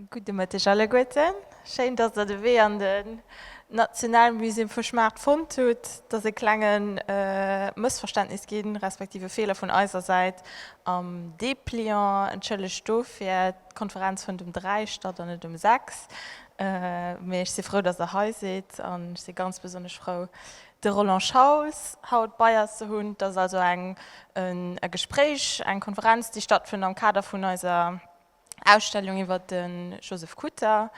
Gudde Mëtteg alleguerten. Schéin, dass der de Wee an den Nationalmuséum vu Schmacht fonnt hutt. Et ass e klenge Mëssverständnis ginn, respektiv e Feeler vun eiser Säit am Depliant. Entschëllegt dofir. D'Konferenz fënnt um 3 statt an net um 6. Mee ech si frou, dass der hei sidd an ech si ganz besonnesch frou, De Roland Schauls, Haut Beiers ze hunn, dat ass also eng e Gespréich, eng Konferenz, déi stattfënnt am Kader vun eiser Ausstellung iwwer de Joseph Kutter,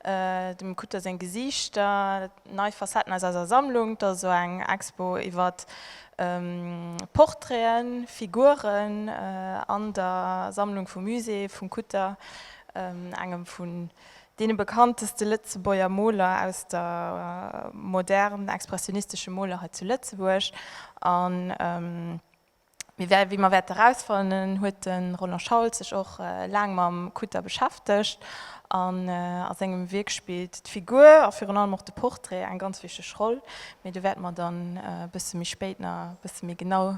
dem Kutter seng Gesiichter, nei Facetten aus eiser Sammlung. Dat ass also eng Expo iwwer Portraiten, Figuren an der Sammlung vum Musée vum Kutter, engem vun Dee bekannteste Lëtzebuerger Moler aus der modern expressionistesche Moler hei zu Lëtzebuerg. A wéi mer wäerte rausfannen, huet de Roland Schauls sech och laang mam Kutter beschäftegt. An a sengem Wierk spillt d'Figur a virun allem och de Portrait eng ganz wichteg Roll. Mee do wäerte mer dann e bësse méi spéit nach e bësse méi genau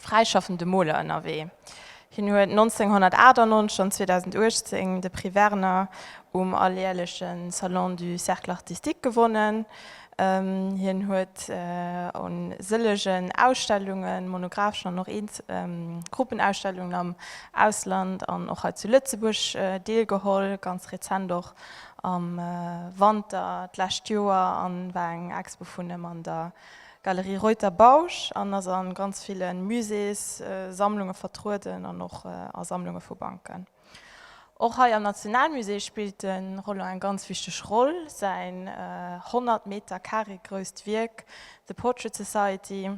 fräischaffende Moler ënnerwee. Hien huet 1998 an 2018 de Prix Werner um alljärleche Salon du Cercle Artistique gewonnen. Hien huet un sëllegen Ausstellungen, monographeschen an och Gruppenausstellungen am Ausland an och hei zu Lëtzebuerg deelgeholl, ganz rezent och am Wanter d'lescht Joer, a war eng Expo vun him an der Galerie Reuter Bausch an ass an ganz villen Musées, Sammlungen vertrueden an och a Sammlungen vu Banken. Och hei am Nationalmusée spillt de Roland eng ganz wichteg Roll. Säin 100 Meter Carré grousst Wierk The Portrait Society,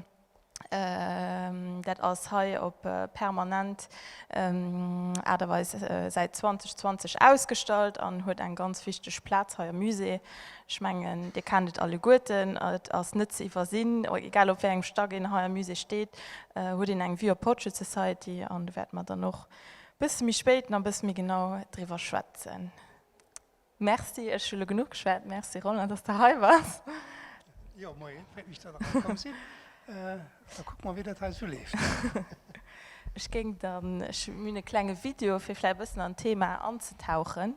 dat ass hei op permanent Aart a Weis säit 2020 ausgestallt an huet eng ganz wichteg Plaz hei am Musée. Ech mengen, Dir kennt et alleguerten, et ass net ze iwwersinn, egal op wéi engem Stack een hei am Musée steet, huet een eng Vue op d'Portrait Society. An do wäerte mer dann och e bësse méi spéit nach e bësse méi genau driwwer schwätzen. Merci, ech hu elo genuch geschwat. Merci, Roland, dass de hei bass. Jo, moien, freet mech, dass der hei komm sidd. Da kucke mer, wéi dat hei esou leeft. Ech géing dann, ech hunn e klenge Video, fir vläicht e bëssen an d'Thema anzetauchen.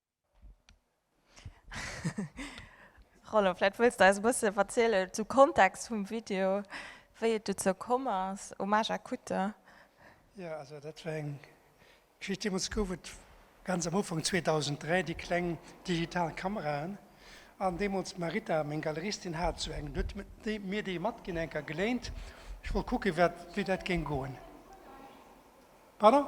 Roland, vläit wëlls de eis e bësse verzielen zum Kontext vum Video, wéi et dozou komm ass, Hommage à Kutte. Jo, also dat war eng Geschicht, deemools gouf et ganz am Ufank, 2003, déi kleng digital Kameraen an deemools d'Marita, meng Galeristin, hat esou eng. Dunn huet déi mir déi matginn, eng Kéier geléint. Ech wollt kucken, wéi dat géing goen. Pardon?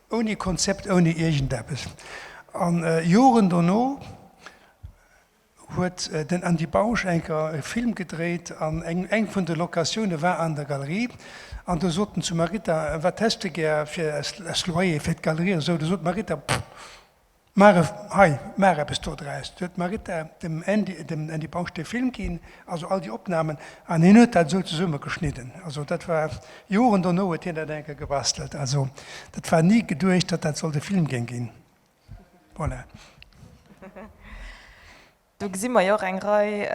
Ouni Konzept, ouni iergendeppes. A Joren dono huet den Andy Bausch eng Kéier e Film gedréit an eng vun de Locatioune war an der Galerie. An do sot en zu Marita, Wat häss de gär fir als Loyer fir d'Galerie? An esou. Do sot d'Marita, Pff! Maach e, hei, maach eppes do draus. Do huet d'Marita dem Andy, dem Andy Bausch dee Film ginn, also all déi Opnamen, an hien huet dat esou zesummegeschnidden. Also dat war, Joren dono huet hien dat eng Kéier gebastelt. Also dat war ni geduecht, datt dat sollt e Film géing ginn. Voilà. Do gesi mer jo och eng Rei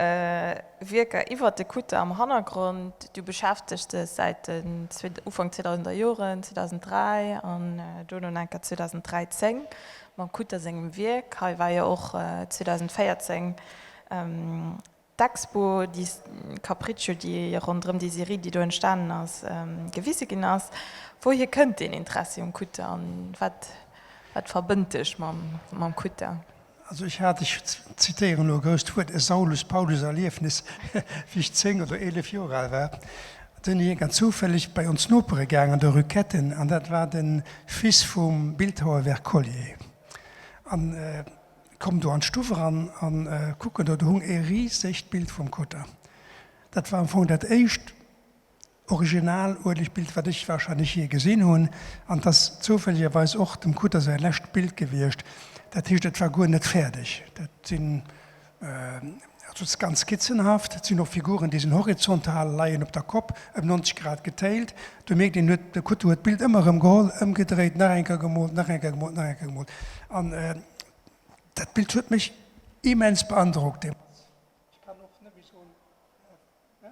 Wierker iwwert de Kutter am Hannergrond. Du beschäftegt dech säit den Ufank 2000er Joren, 2003 an duerno nach eng Kéier 2013, mam Kutter sengem Wierk. Hei war jo och 2014 d'Expo di Capriccio, déi ronderëm déi Serie, déi do entstanen ass, gewise ginn ass. Wouhier kënnt deen Interessi um Kutter an wat verbënnt dech mam Kutter? Also ech hat, ech zitéieren elo e grousst Wuert, e Saulus-Paulus-Erliefnis, wéi ech zéng oder eelef Joer al war. Do sinn ech ierkend zoufälleg bei ons Nopere gaang an der Rue Ketten, an dat war de Fils vum Bildhauer Wercollier, an kommen do an d'Stuff eran an kucken do, do hung ee risegt Bild vum Cotta. Dat war am Fong dat éischt original uelegt Bild wat ech wahrscheinlech jee gesinn hunn. An 't ass zoufällegerweis och dem Kutter säi lescht Bild gewiescht. Dat heescht et war guer net fäerdeg. Dat sinn, also et ass ganz skizzenhaft, et sinn och Figuren déi sinn horizontal, leien op der Kopp, ëm 90 Grad getéilt. Do mierkt een huet, de Kutter huet d'Bild ëmmer erëm geholl, ëmgedréit, nach eng Kéier gemoolt, nach eng Kéier gemoolt, nach eng Kéier gemoolt. An dat Bild huet mech immens beandrockt deemools. Ech kann och nëmme soen, ne?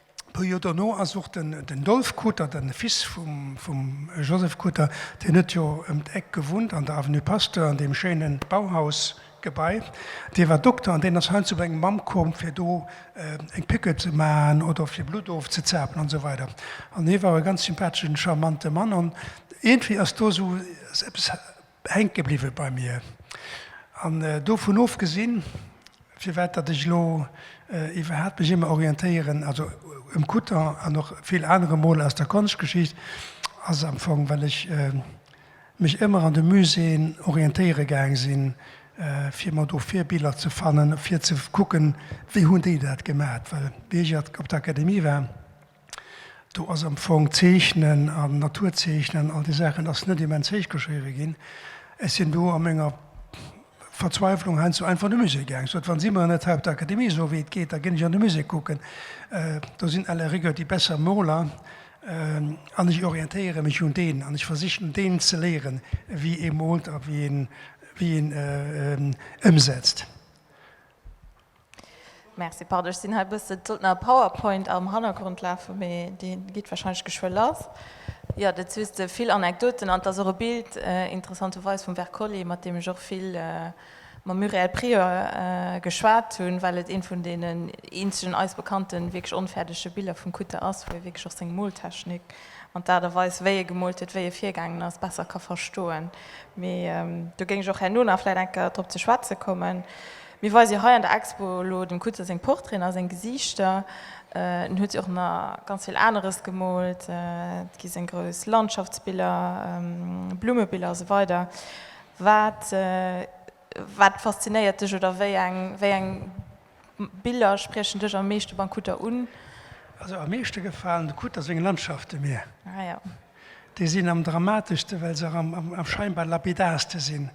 E puer Joer dono ass och den Dolf Coter, de Fils vum Joseph Coter, deen huet jo ëm d'Eck gewunnt an der Avenue Pasteur an deem schéine Bauhausgebai, dee war Dokter an deen ass heiansdo bei eng Mamm komm, fir do eng Piqûre ze maachen oder fir Blutt ofzezapen an esou weider. An hie war e ganz sympatheschen, charmante Mann an iergendwéi ass do esou eppes, hänke bliwwe bei mir. An dovun ofgesinn, firwat datt ech elo iwwerhaapt mech ëmmer orientéieren, also um Kutter an och vill anere Moler aus der Konschtgeschicht, ass am Fong, well ech mech ëmmer an de Muséeën orientéiere gaang sinn, fir mer do Virbiller ze fannen, fir ze kucken, wéi hunn déi dat gemat. Well wéi ech op der Akademie war, Do ass am Fong Zeechnen an Naturzeechnen, all déi Saachen ass net immens héich geschriwwe ginn. Ech sinn do a menger Verzweiflung heiansdo einfach an de Musée gaang, sot, wa si mer net hei op der Akademie soe wéi et geet, da ginn ech an de Musée kucken. Do sinn à la rigueur déi besser Moler an ech orientéiere mech un deenen an ech versichen deenen ze léieren, wéi ee moolt a wéi een ëmsetzt. Merci, pardon, ech sinn hei e bëssen, et sollt nach e Powerpoint am Hannergrond lafen, mee deen geet wahrscheinlech geschwë lass. Jo, dat soos de vill Anekdoten an et ass och e Bild, interessanterweis, vum Wercolli, mat deem ech och vill mam Muriel Prieur geschwat hunn, well et eent vun deenen eenzegen eis bekannten wierklech onfäerdege Biller vum Kutter ass, wou ee wierklech och seng Moltechnik an d'Aart a Weis, wéi e gemoolt huet, wéi e virgaangen ass, besser ka verstoen. Mee do géing ech och herno nach vläit eng Kéier drop ze schwätze kommen. Mir weise jo hei an der Expo elo dem Kuetze seng Portraiten a seng Gesiichter. En huet jo och nach ganz vill aneres gemoolt, et gi seng grouss Landschaftsbiller, Blummebiller a sou weider. Wat wat faszinéiert dech oder wéi eng wéi eng Biller spriechen dech am meeschte beim Kutter un? Also am meeschte gefalen de Kutter seng Landschafte mir. Ah ja. Déi sinn am dramateschste well se am am scheinbar lapidarste sinn.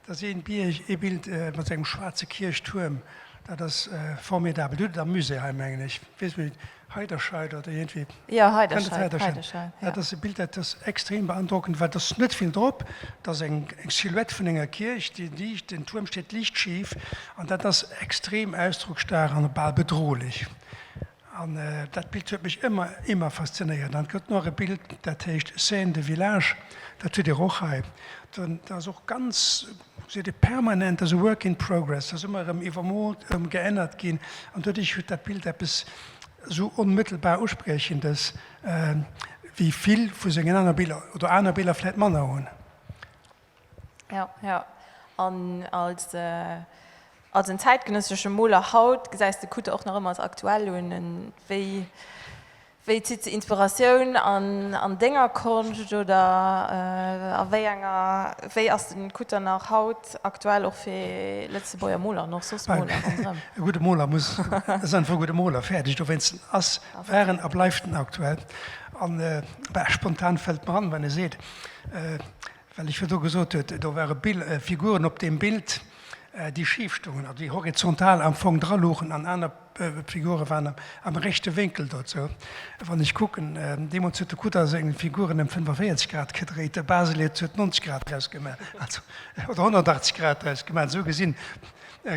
Da si een Bierg, ee Bild mat sengem schwaarze Kierchtuerm, dat ass formidabel. Dir hutt et am Musée hei, mengen ech, weess mech net, Heiderscheid oder iergendwéi? Jo, Heiderscheid, Heiderscheid, jo. Dat ass e Bild, dat ass extrem beandrockend, well et ass net vill drop. Dat ass eng Silhouette vun enger Kierch, déi liicht, den Tuerm steet liicht schif, an dat ass extrem ausdrocksstaark an bal bedrohlech. An dat Bild huet mech ëmmer, immer faszinéiert. An et gëtt nach e Bild, dat heescht Scène de village. Dat hutt Dir och hei. Dat ass och ganz, seet Dir, permanent, dat ass e work in progress, dat ass ëmmer erëm iwwermoolt, ëmgeännert ginn. An doduerch huet dat Bild eppes esou onmëttelbar Uspriechendes, wéi vill vu sengen aner Biller, oder aner Biller vläicht manner hunn. Jo, jo. An als als en zäitgenëssesche Moler haut, gesäis de Kutte och nach ëmmer als aktuell un? Wéi wéi zitt se Inspiratioun an an denger Konscht oder a wéi enger wéi ass den Kutte nach haut aktuell och fir Lëtzebuerger Moler an och soss Moler ronderëm? E gudde Moler muss ass einfach e gudde Moler, fäerdeg. Dowéinst ass, war en a bleift en aktuell. An spontan fält mer an, wann e seet, Well ech virdu gesot huet, do ware Bild, Figuren op deem Bild, déi schif stoungen, also déi horizontal am Fong dra lugen an aner Figure waren am rechte Wénkel dozou. Wann ech kucken, deemools huet de Kudder seng Figuren ëm 45 Grad gedréit, de Baselitz huet 90 Grad draus gemaach, also oder 180 Grad draus gemaach. Esou gesinn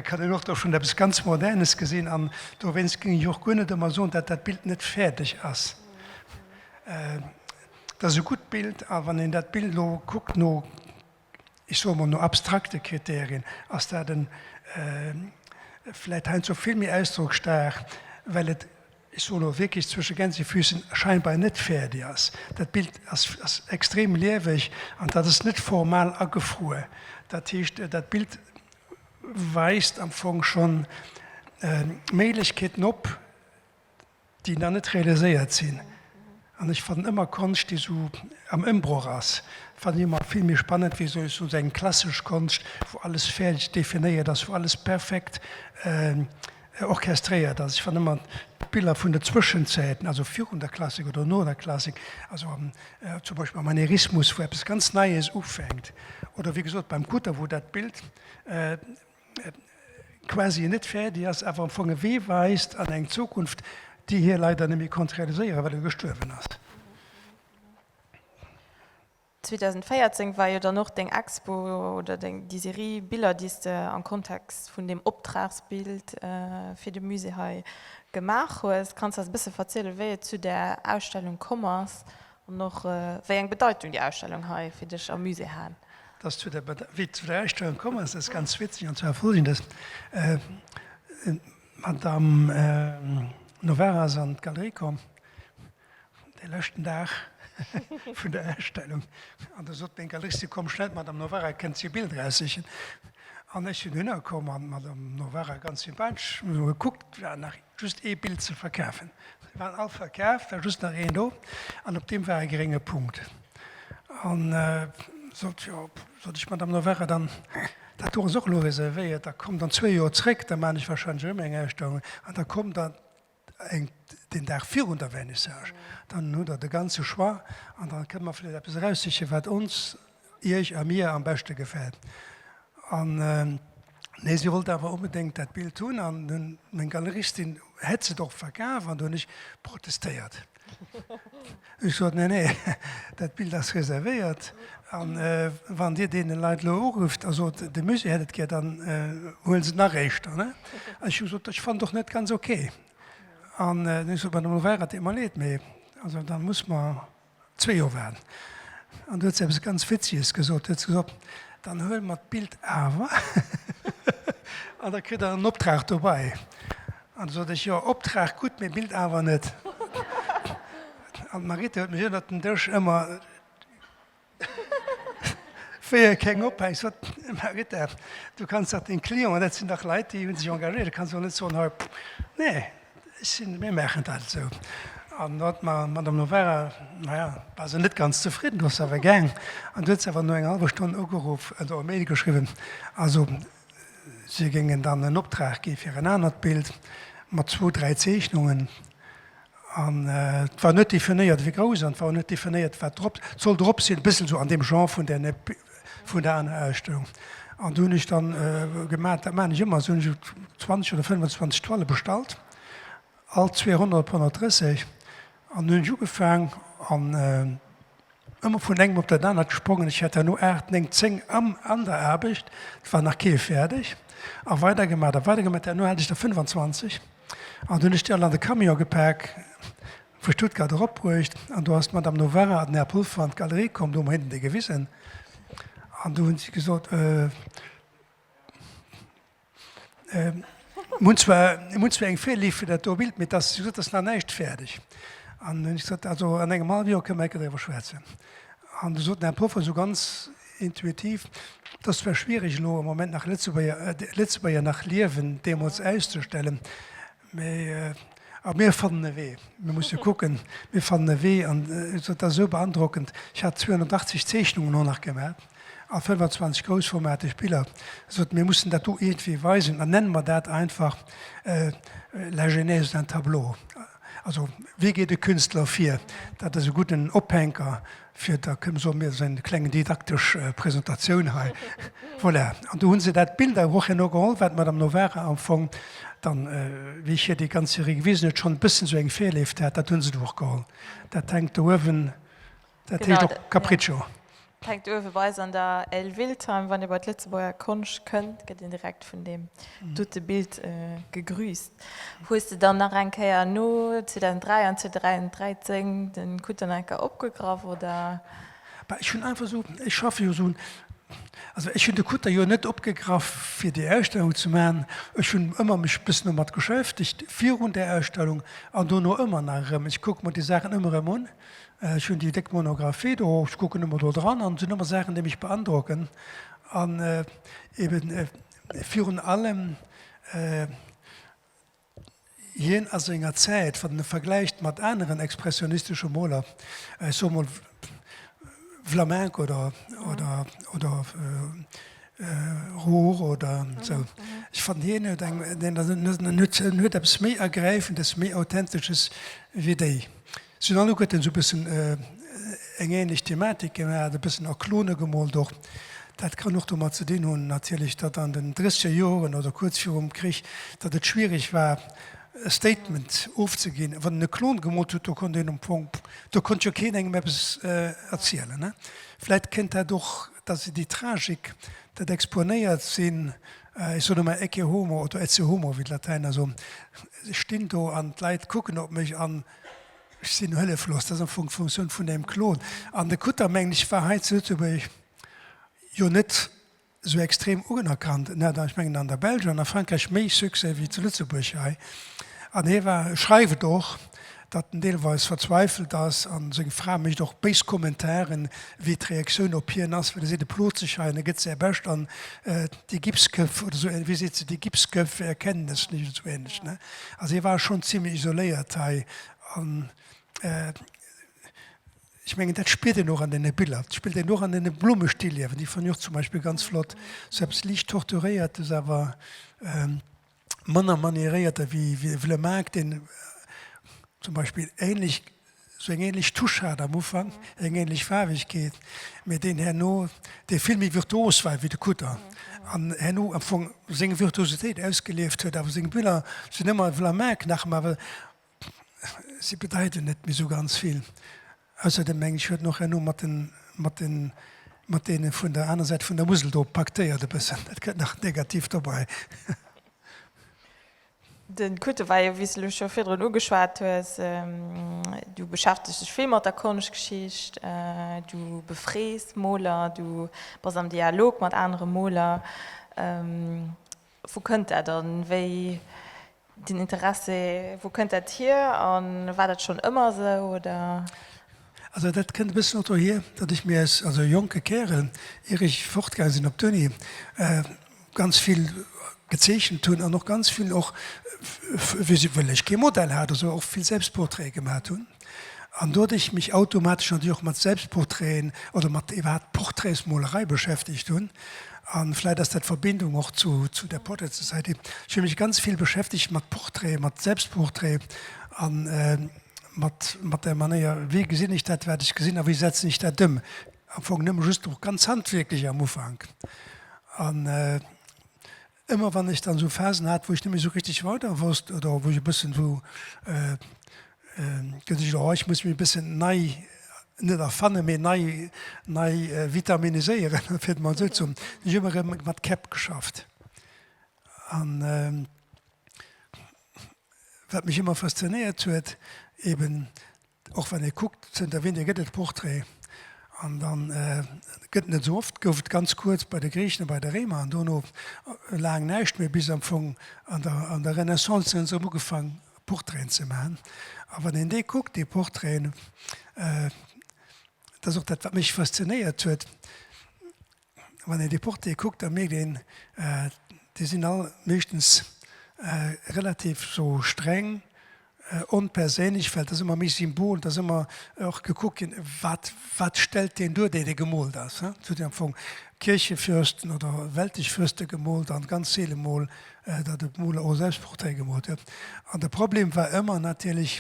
kann een och do schonn eppes ganz Modernes gesinn an dowéinst géing ech och guer net ëmmer soen, datt dat Bild net fäerdeg ass. Dat ass e gutt Bild. A wann een dat Bild elo kuckt no, ech soe mol, no abstrakte Kriterien, ass dat en vläicht heiansdo vill méi ausdrocksstaark, well et, ech soen elo wierklech zwësche Gänsefüßchen, scheinbar net fäerdeg ass. Dat Bild ass extrem lieweg an dat ass net formal agefruer. Dat heescht, dat Bild weist am Fong schonn Méiglechkeeten op, déi nach net realiséiert sinn an ech fannen ëmmer Konscht déi esou am Ëmbroch ass, fannen ech ëmmer vill méi spannend wéi esou esou eng klassesch Konscht wou alles fäerdeg definéiert ass, wou alles perfekt orchestréiert ass. Ech fannen ëmmer d'Biller vun de Zwëschenzäiten, also virun der Klassik oder no der Klassik, also am zum Beispill am Manierismus wou eppes ganz Neies ufänkt oder wéi gesot beim Kutter wou dat Bild quasi net fäerdeg ass, awer am Fong e Wee weist an eng Zukunft, déi hie leider net méi konnt realiséieren, well e gestuerwen ass. 2014 war jo dann och deng Expo oder deng, déi Serie Biller, déi s de am Kontext vun deem Optragsbild fir de Musée hei gemaach hues. Kanns de eis e bësse verzielen, wéi et zu där Ausstellung komm ass An och wéi eng Bedeitung déi Ausstellung hei fir dech am Musée hat? Dass du wéi zu der Ausstellung komm ass, ass ganz witzeg. An zwar Follgendes, d'Madamm Novara ass an d'Galerie komm de leschten Dag vun der Ausstellung an da sot meng Galeristin, Komm schnell, d'Madamm Novara kënnt hir Biller aussichen. An ech sinn dohinner komm an d'Madamm Novara, ganz sympathesch, hu se mol gekuckt, war nach just ee Bild ze verkafen. Se waren all verkaf, war just nach een do an op deem war e grénge Punkt. An sot, jo, sot ech, Madame Noverre, dann dat do ass och elo reservéiert, da kommt an zwee Joer zréck, da man ech wahrscheinlech erëm eng Ausstellung an da kommt der eng den Dag virun der Vernissage, dann hutt der de ganze Choix an da kënne mer vläicht eppes eraussichen, wat ons Iech a mir am beschte gefält. An nee, si wollt awer onbedéngt dat Bild hunn an meng Galeristin hätt s'et och verkaf an do hunn ech protestéiert. Ech sot, nee, nee, dat Bild ass reservéiert an wann Dir deene Leit elo urufft a sot, de Musée hätt et gär, dann huele s'et nach éischter. An ech hu gesot, ech fannen et och net ganz ok. An ech sot, mä dann elo war et eemol leed, mä also da muss mer zwee Joer waren, an du huet se eppes ganz Witziges gesot, huet se gesot, dann huele mer d'Bild awer an da kritt der en Optrag dobäi. An da sot ech, jo, Optrag gutt, mee Bild awer net. An d'Maritte huet mech ënnert den Dësch ëmmer, wéi e keng ophänkt, gesot, Maritte, du kanns dach deene Clienten, dat sinn dach Leit, déi hu sech engagéiert, du kanns dach net soen, hei, nee, Ech sinn, mir maachen dat esou. An da d'Ma, d'Madame Noverra, naja, war se net ganz zefridden, do ass se awer gaang. An du huet se awer no enger hallwer Stonn ugeruff, oder e Mail geschriwwen, also si géingen dann en Optrag gi fir en anert Bild mat zwou, dräi Zeechnungen. An et war net definéiert, wéi grouss, an et war och net definéiert, wat drop sollt drop sinn. E bëssen esou an deem Genre vun där, vun der aner Ausstellung. An do hunn ech dann gemat, dat maan ech ëmmer sou, hunn ech jo 20 oder 25 Toile bestallt, all zwee Ronne op 130, an hunn ech ugefaang an ëmmer vun engem op dat anert gesprongen. Ech hat herno 8, 9, 10 an der Aarbecht, et war nach kee fäerdeg, a weider gemat a weider gemat. Herno hat ech der 25 an do hunn ech déi all an de Camion gepak. Vu Stuttgart erop bruecht, an do ass d'Madame Novara an den Här Pulfer an d'Galerie komm, do hu mer hinnen déi gewisen, an do hunn si gesot, Mir hunn zwar, mir hunn zwar eng Virliift fir dat do Bild, mee dass, si gesot, dass nach näischt fäerdeg. An hunn ech gesot, Also an engem hallwe Joer kënne mer enker driwwer schwätzen. An du sot den Här Pulfer esou ganz intuitiv, Et ass zwar schwiereg elo am Moment nach Lëtzebuerger, Lëtzebuerger nach liewen deemools auszustellen, Mä mir fannen e Wee. Mir musse kucken. Mir fannen e Wee. An dat ass esou beandrockend. Ech hat 280 Zeechnungen och nach gemaach a 25 groussformateg Biller. Sot, mir mussen dat do iergendwéi weisen. Dann nenne mer dat einfach La genèse d'un tableau. Also, wéi geet e Künstler vir? Dat ass e gudden Ophänker. Fir da kënne soe mir seng kleng didaktesch Presentatioun hei. Voilà, an do hu se dat Bild awer och herno geholl, wat d'Madame Novara am Fong dann, wéi ech hir déi ganz Serie gewisen huet, schonn e bëssen esou eng Virleeft hat. Dat hu se do och geholl. Dat hänkt do uewen, dat heescht och Capriccio. Dat hänkt uewe bei eis an der L Wiltheim. Wann ee bei d'Lëtzebuerger Konscht kënnt, gëtt een direkt vun deem dote Bild gegrüßt. Hues de dann nach eng Kéier no 2003 an 2013 de Kutternaker opgegraff, oder? Bah, ech hunn einfach esou, ech schaffe jo esou, also ech hunn de Kutter jo net opgegraff fir déi Ausstellung ze maachen, ech hunn ëmmer mech e bëssen domat geschäftegt virun där Ausstellung an dono ëmmer nach erëm. Ech kucke mer déi Saachen ëmmer erëm un, ech hunn déi déck Monographie do, ech kucken ëmmer do dran an et sinn ëmmer Saachen, déi mech beandrocken an eben, Virun allem hien a senger Zäit, wann een e vergläicht mat aneren expressionistesche Moler, ech soe mol Vlaminck oder oder Roure oder esou, ech fannen, hien huet eng, en huet eppes méi Ergräifendes, méi Authentesches wéi déi. Sinn an do gëtt en sou bëssen eng ähnlech Thematik gemaat, e bëssen a Klone gemoolt och. Dat kann och domat ze dinn hunn natierlech, datt an den dréchseger Joren oder kuerz virum Krich, datt et schwierig war e Statement ofzeginn. Wann en e Klon gemoolt huet, do konnt een am Fong, do konnt jo keen engem eppes erzielen. Vläit kéint dat och, datt se déi Tragik, dat exponéiert sinn, ech soen ëmmer ecce homo oder ecce homo, wéi d'Latäiner soen, ech stinn do an d'Leit kucken op mech an, Ech sinn hëlleflos, dat ass am Fong d'Funktioun vun engem Klon. An de Kutter, mengen ech, war hei zu Lëtzebuerg jo net esou extrem unerkannt. En hat, ech mengen, an der Belsch an a Frankräich méi Succès wéi zu Lëtzebuerg hei. An hie war, e schreift et och, datt en deelweis verzweifelt ass. A seng Fra mécht och béis Kommentaren, wéi d'Reaktioun op hien ass, well e seet, e plot sech hei an e gëtt säi Bescht. An déi Gipsköpf oder esou, wéi seet se, die Gipsköpfe erkennen es nicht oder esou änlech. Also hie war schonn zimlech isoléiert hei an ech mengen dat spiert een och an deene Biller. Dat spiert een och an deene Blummestilliewen, déi fannen ech och zum Beispill ganz flott. Sou eppes liicht Torturéiertes awer manner manieréiert ewéi e Vlemaark, deen zum Beispill änlech sou eng ähnlech Touche hat am Ufank, eng ähnlech Faarwegkeet, mee deen herno, dee vill méi virtuos war wéi de Kutter an herno am Fong seng Virtuositéit ausgelieft huet. Awer seng Biller sinn ëmmer, v'là Maark nach ëmmer, well si bedeiten net méi sou ganz vill. Ausserdem mengen ech, huet en och herno mat den, mat den, mat deene vun der aner Säit vun der Musel do paktéiert e bëssen, dat gëtt nach negativ dobei. Den Kuteweie, wéi s de lo scho virdrun ugeschwat hues, du beschäftegs dech vill mat der Konschtgeschicht, du befrees Moler, du bass am Dialog mat anere Moler. Wou kënnt dat an wéi den Interesse, wou kënnt dat hier an war dat schonn ëmmer esou oder? Also dat kënnt e bëssen och dohier, datt ech mir als jonke Kärel, ier ech fortgaange sinn op d'Uni, ganz vill gezeechent hunn an och ganz vill och well ech kee Modell hat also och vill Selbstportraite gemat hunn an do ech mech automatesch natierlech och mat Selbstportraiten oder mat iwwerhaapt Portraitsmolerei beschäftegt hunn. A vläit ass dat d'Verbindung och zu zu der Portrait Society. Ech hu mech ganz vill beschäftegt mat Portraite, mat Selbstportraite an mat mat der Manéier wéi gesinn ech dat wat ech gesinn a wéi setzen ech dat ëm. Am Fong nëmme just och ganz handwierklech am Ufank. An ëmmer wann ech dann esou Phasen hat, wou ech net méi esou richteg weider wosst oder wou ech e bëssen esou gesicht hunn, oh ech muss mech e bëssen nei, net erfannen, mee nei, nei vitaminiséieren, fir et emol esou ze hunn, hunn ech ëmmer erëm mat Käpp geschafft. An wat mech ëmmer faszinéiert huet, eben, Och wann ee kuckt, zënter wéini gëtt et Portrait an dann gëtt net esou oft, gouf et ganz kuerz bei de Griichen a bei de Réimer an dono laang näischt méi bis am Fong an der Renaissance hu se erëm ugefaang Portraiten ze maachen. A wann een déi kuckt, déi Portraiten, dat ass och dat wat mech faszinéiert huet, Wann een déi Portée kuckt, da mierkt een, déi sinn all meeschtens relativ sou streng, onperséinlech, well et ass ëmmer méi Symbol, et ass ëmmer och gekuckt ginn, wat, wat stellt deen duer, dee dee gemoolt ass. Et gëtt jo am Fong Kierchefürsten oder weltlech Fürste gemoolt an ganz seele mol, datt e Moler och Selbstportrait gemoolt huet. An de Problem war ëmmer natierlech,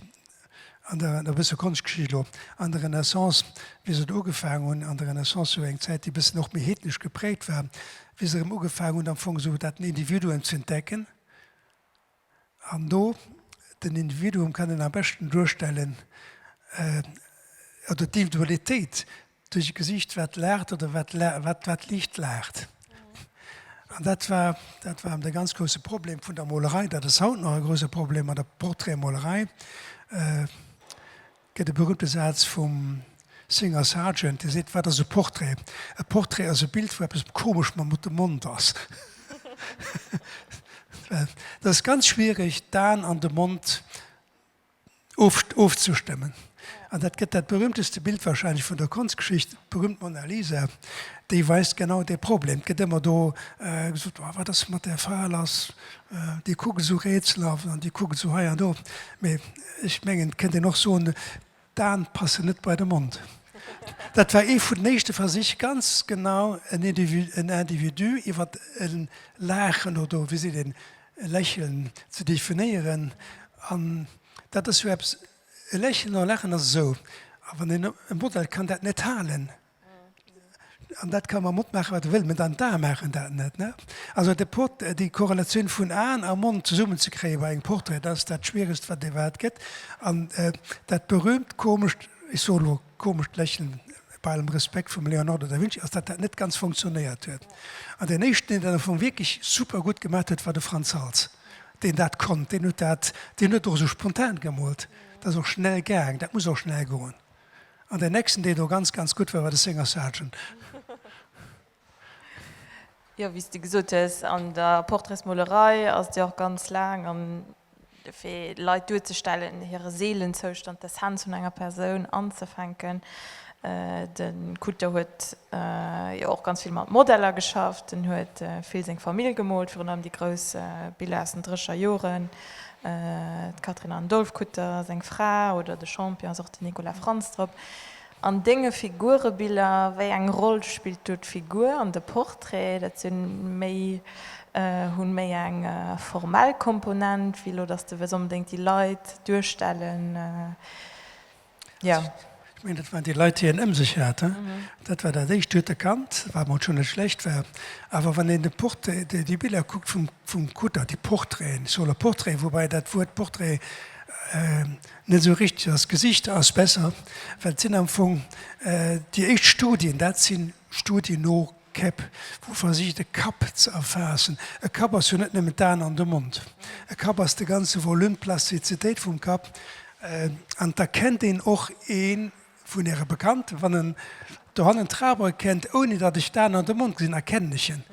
an der, e bësse Konschtgeschicht elo, an der Renaissance, wéi se do ugefaangen hunn, an der Renaissance, jo eng Zäit, déi e bëssen och méi heednesch geprägt war, wéi se erëm ugefaangen hunn am Fong esou dat den Individuum ze entdecken. An do, den Individuum kann een am beschten duerstellen, oder d'Individualitéit, Duerch e Gesicht wat laacht oder wat la-, wat, wat liicht laacht. An dat war, dat war de ganz grouse Problem vun der Molerei, dat ass haut nach e grouse Problem an der Portraitmolerei. Gëtt e berühmte Saz vum Singer Sargent, dee seet, Wat ass e Portrait? E Portrait ass e Bild, wou eppes komesch mam de Mond ass. Well et ass ganz schwierig, d'An an de Mond, ofzestëmmen. An dat gëtt dat berühmteste Bild wahrscheinlech vun der Konschtgeschicht, d'berühmt Mona Lisa, déi weist genau dee Problem. Et gëtt ëmmer do gesot, oh wat ass mat där Fra lass, déi kuckt esou rätselhaft an déi kuckt esou hei an do. Mä ech mengen, et kënnt een och soen, d'Aen passen net bei de Mond. Dat war ee vun den éischte Versich, ganz genau en Individu iwwer e laachen oder wéi seet een, e Lächeln ze definéieren an dat ass jo eppes, e Lächeln an e Laachen ass esou, a wann een, e Model kann dat net halen an dat ka mam Mond maache wat e wëll, mä dann d'Ae maachen dat net, ne. Also de Port, déi Korrelatioun vun Aen a Mond zesummen ze kréie bei engem Portrait, dat ass dat Schwieregst wat iwwerhaapt gëtt an dat berühmt komescht, ech soe elo. komescht Lächeln bei allem Respekt vum Leonardo da Vinci, ass dat dat net ganz funktionéiert huet. An deen éischten deen dat am Fong wierklech super gutt gemat huet war de Frans Hals, deen dat konnt, deen huet dat, deen huet och esou spontan gemoolt, dat ass och schnell gaang, dat muss och schnell goen. An deen nächsten deen do ganz ganz gutt war, war de Singer Sargent. Jo, wéi s de gesot hues, an der Portraitsmolerei ass et jo och ganz laang an fir Leit duerzestellen, hire Seelenzoustand, d'Essenz vun enger Persoun anzefänken. De Kutter huet jo och ganz vill mat Modeller geschafft, en huet vill seng Famill gemoolt, virun allem déi grouss Biller aus den Drécher Joren, d'Catherine Anne Dolff-Kutter, seng Fra, oder de Champion ass och den Nicolas Frantz drop. An denge Figurebiller, wéi eng Roll spillt do d'Figur an de Portrait? Dat sinn méi, hunn méi eng formell Komponent, wéi elo dass de wëlls onbedéngt déi Leit duerstellen, jo. Ech mengen, dat waren déi Leit, déi en ëm sech hat. Dat war dat éischt. Dir hutt erkannt, wat mol schonn net schlecht war. Awer wann een de Portrait, déi, déi Biller kuckt vum, vum Kutter, déi Portraiten, Solo-Portraiten, woubäi dat Wuert Portrait, Net esou richteg, ass Gesichter ass besser, well et sinn am Fong déi éischt Studien, dat si Studien no Käpp, wou ee versicht e Kapp ze erfaassen. E Kapp ass jo net nëmmen d'Aen an de Mond, e Kapp ass de ganze Volume, d'Plastizitéit vum Kapp an et erkennt een och een, Vun Äre Bekannten, wann en dohannen trabere kennt, ouni datt ech d'Aen an de Mond gesinn, erkennen ech en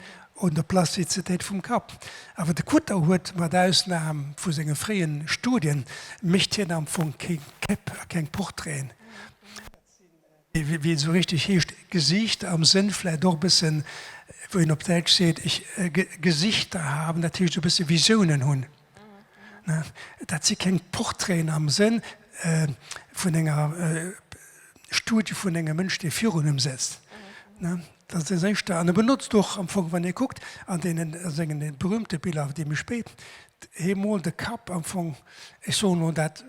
un der Plastizitéit vum Kapp. Awer de Kutter huet, mat Ausnahm vu senge fréie Studien, mécht hien am Fong keng Käpp a keng Portraiten. Dat sinn déi, wéi et esou richteg heescht, Gesiichter, am Sënn vläicht och e bësse wéi een op Däitsch seet, ich Gesichter haben, dat heescht e bësse Visiounen hunn. Dat si keng Portraiten am Sënn vun enger Studie vun engem Mënsch, dee virun em sëtzt. Dat ass dat Éischte. An e benotzt och am Fong, wann ee kuckt an deene senge berühmte Biller, déi méi spéit, hie moolt de Kapp am Fong, ech soen elo dat,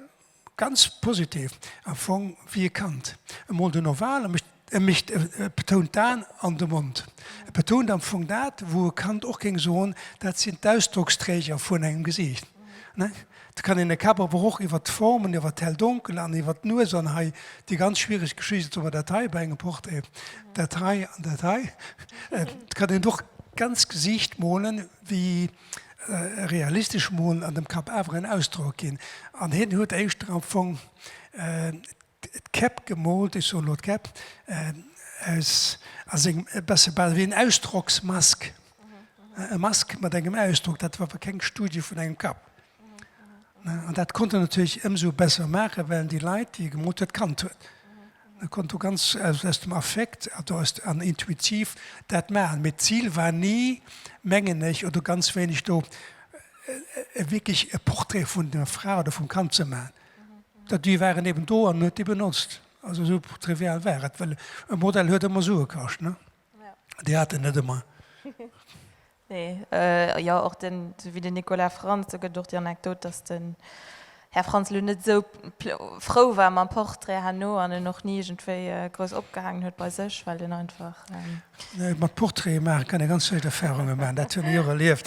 Ganz positiv am Fong wéi e Kand emol den Oval mécht. E mécht, e betount d'Aen an de Mond. E betount am Fong dat, wou e Kand och géing soen, dat sinn d'Ausdrocksträger vun engem Gesiicht. Da kann een de Kap awer och iwwer d'Formen, iwwer d'Hell-Donkel an iwwer d'Nues an hei déi ganz schwiereg Geschicht, soe mer dat hei bei engem Portrait, dat hei an dat hei, et kann een och d'ganz Gesiicht molen wéi. realistesch mol an dem Kapp awer en Ausdrock ginn. An hien huet éischter am Fong d'Käpp gemoolt, ech soen elo d'Käpp aus, a sengem e besse bal wéi en Ausdrocksmask, e Mask mat engem Ausdrock. Dat war awer keng Studie vun engem Kapp. An dat konnt en natierlech ëmsou besser maachen, well en déi Leit, déi e gemoolt huet, kannt huet. E konnt do ganz aus dem Affekt an intuitiv dat maachen. Mee d'Zil war ni, mengen ech, oder ganz wéineg do wierklech e Portrait vun der Fra oder vum Kand ze maachen. Déi waren eben do an en huet déi benotzt. Also esou trivial war et. Well e Modell huet ëmmer Sue kascht, ne? Déi hat en net ëmmer. Nee, jo, och den, esou wéi den Nicolas Frantz, do gëtt et och déi Anekdot, datt den Här Frantz elo net esou frou war mam Portrait herno an en och ni iergendwéi grouss opgehaangen huet bei sech, well en einfach. Nee, mat Portraite maachen kann ee ganz schlecht Erfahrungen maachen, dat hunn ech och erlieft.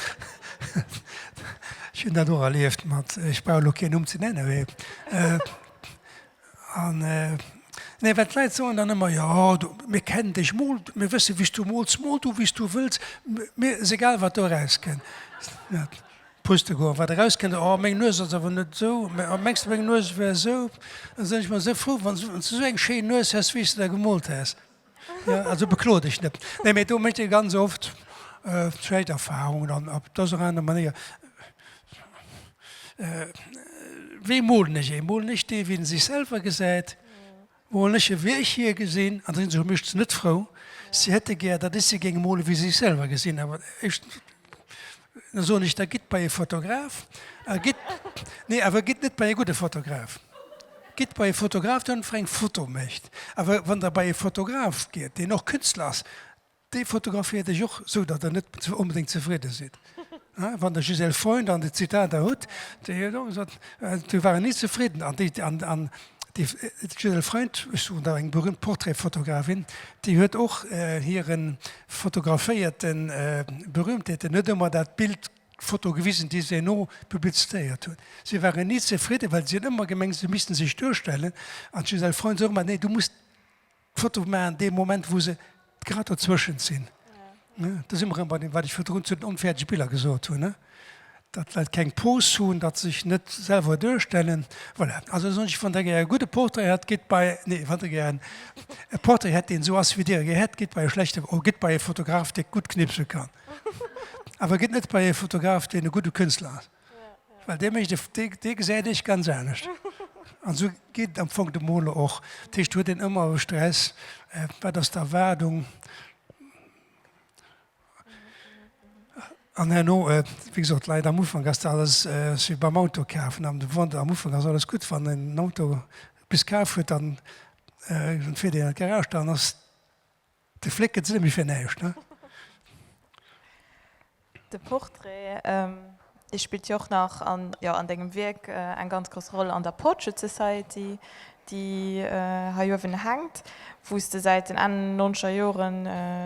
Ech hunn dat och erlieft mat, ech brauch elo keen Numm ze nennen, mee. An nee, well d'Leit soen dann ëmmer, jo, du, mir kennen dech, mol, mir wësse wéi s du mols, mol du wéi s du wëlls, mir ass egal wat do erauskënnt. Pustekuch, wat erauskënnt, oh meng Nues ass awer net esou, mä oh mengs de meng Nues wär esou? Da sinn ech ëmmer esou frou, wann s du esou eng schéin Nues häss wéi s de der gemolt häss. Jo, also beklo dech net. Nee, mee do mécht ee ganz oft schlecht Erfahrungen an op dës oder aner Manéier. Wéi molen ech ee? Molen ech dee, wéi en sech selwer gesäit? Molen ech e, wéi ech hie gesinn? An dann sinn se meeschtens net frou. Si hätte gär, datt ech se géing molen, wéi si sech selwer gesinn. Awer éischtens. Da soen ech, da gitt bei e Fotograf. A gitt, nee, awer gitt net bei e gudde Fotograf. Gitt bei e Fotograf, deen einfach eng Foto mécht. Awer wann Der bei e Fotograf gitt, deen och Künstler ass, dee fotograféiert Iech och, esou datt Der net onbedéngt zefridde sidd. Wann Der Gisèle Freund an déi Zitater hutt, déi huet och gesot, Mir waren ni zefridden. An déi, an, an Déi Gisèle Freund, ech suchen nach eng berühmt Portraitfotografin, déi huet och hire fotograféierte Berühmtheeten net ëmmer dat Bild, d'Foto gewisen, déi se no publiztéiert huet. Si ware ni zefridden, well si hunn ëmmer gemengt, si misste sech duerstellen. An d'Gisèle Freund sot ëmmer, Nee, du musst. D'Foto maachen, dee Moment, wou se grad dozwëschent sinn. Do si mer erëm bei deem, wat ech virdrun zu den onfäerdege Biller gesot hunn, datt well keng Pose hunn, datt se sech net selwer duerstellen. Voilà, also soen ech, wann Der gär e gudde Portrait hätt, gitt bei, nee, wann Der gär en, e Portrait hätt, deen esou ass, wéi Dir e gär hätt, gitt bei e schlechte, oh, gitt bei e Fotograf, dee gutt knipse kann. Awer gitt net bei e Fotograf, deen e gudde Künstler ass. Well dee mécht, dee gesäit ech ganz anescht. An esou geet et am Fong dem Moler och. Dat heescht, huet een ëmmer e Stress, wat ass d'Erwaardung? An herno, wéi gesot, d'Leit am Ufank ass dat alles, ass wéi beim Auto kafen, am Ufank ass alles gutt, wann een en Auto bis kaf huet, dann fiert een an d'Garage, dann ass De Flick gëtt se nëmme fir näischt, ne? De Portrait, dee spillt jo och nach an, jo, an dengem Wierk eng ganz grouss Roll an der Portrait Society, déi hei uewen hänkt, wou s de säit den Enn nonzeger Joren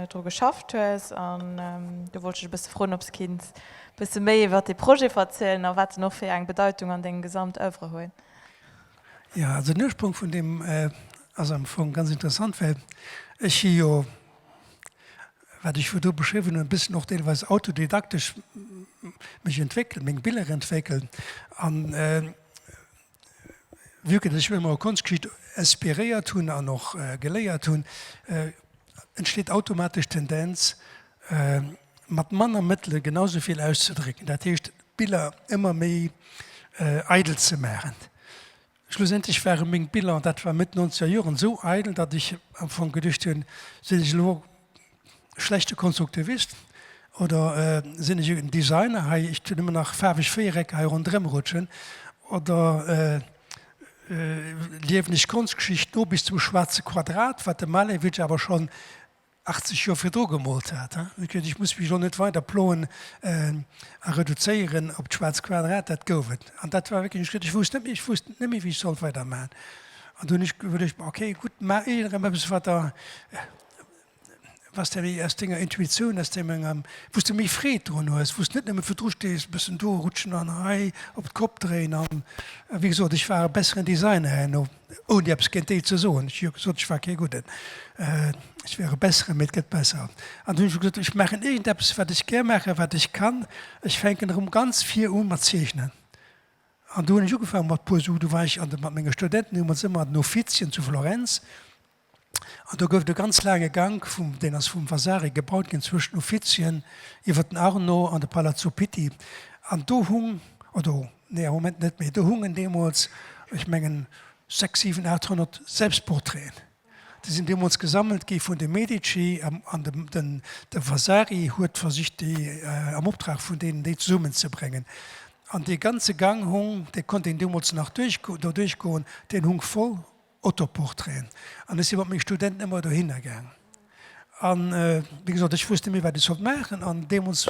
dru geschafft hues. An do wollt ech dech e bësse froen, ob s de kinns e bësse méi iwwert dee Projet verzielen a wat en och fir eng Bedeitung an dengem gesamt Oeuvre huet. Jo, also den Ursprong vun deem ass am Fong ganz interessant, well ech si jo, wat ech virdu beschriwwen hunn, e bësschen och deelweis autodidaktesch mech entwéckelt, meng Biller entwéckelt. An vue que ech mech ëmmer u Konschtgeschicht inspiréiert hunn an och geléiert hunn, entsteet automatesch d'Tendenz, mat manner Mëttele genau sou vill auszedrécken, dat heescht d'Biller ëmmer méi eidel ze maachen. Schlussendlech ware meng Biller, dat war Mëtt Nonzeger Joren, esou eidel, datt ech am Fong geduecht hunn, sinn ech elo e schlechte Konstruktivist oder sinn ech en Designer hei, ech tun ëmmer nach faarweg Véierecker hei ronderëm rutschen oder liewen ech Konschtgeschicht no bis zum schwaarze Quadrat, wat de Malevich awer schonn 80 Joer virdru gemoolt hat. Ech muss mech elo net weider ploen a reduzéieren op d'schwaarz Quadrat, dat gouf et. An dat war wierklech e Schritt, ech wousst net méi, ech wousst net méi, wéi ech sollt weider maachen. An dunn hunn ech iwwerluecht, ma okay, gutt, maach iergend erëm eppes, wat der, was der aus denger Intuitioun, aus deem engem, wou s de méi Freed drun hues, wou s de net nëmme virdru stees, e bëssen do rutschen an hei op d'Kopp dréien. A wéi gesot, ech war e besseren Designer herno. Ouni eppes géint déi ze soen, ech hu jo gesot, ech war kee Gudden, ech wär e Besseren, mee et gëtt besser. An dunn hu ech gesot, ech maachen iergendeppes, wat ech gär maachen, wat ech kann, ech fänken erëm ganz vir u mat zeechnen. An do hunn ech ugefaangen mat puer Sue, do war ech an de mat menge Studenten, hu mir ons ëmmer an den Uffizien zu Florenz, An do gouf et e ganz laange Gank, vum, deen ass vum Vasari gebaut ginn, zwëschen Uffizien, iwwer den Arno an de Palazzo Pitti. An do hung, oder nee, am Moment net méi, do hungen deemools, ech mengen, sechs, siwen, aachthonnert Selbstportraiten. Déi sinn deemools gesammelt gi vun de Medici an de, den, de Vasari huet versicht, déi am Optrag vun deenen, déi zesummenzebréngen. An dee ganze Gang hung, dee konnt een deemools nach duerchgo, do duerchgoen, deen hung voll. Autoportraiten. An ech si mat menge Studenten ëmmer dohinner gaangen. A wéi gesot, ech wosst net méi, wat ech sollt maachen. An deemools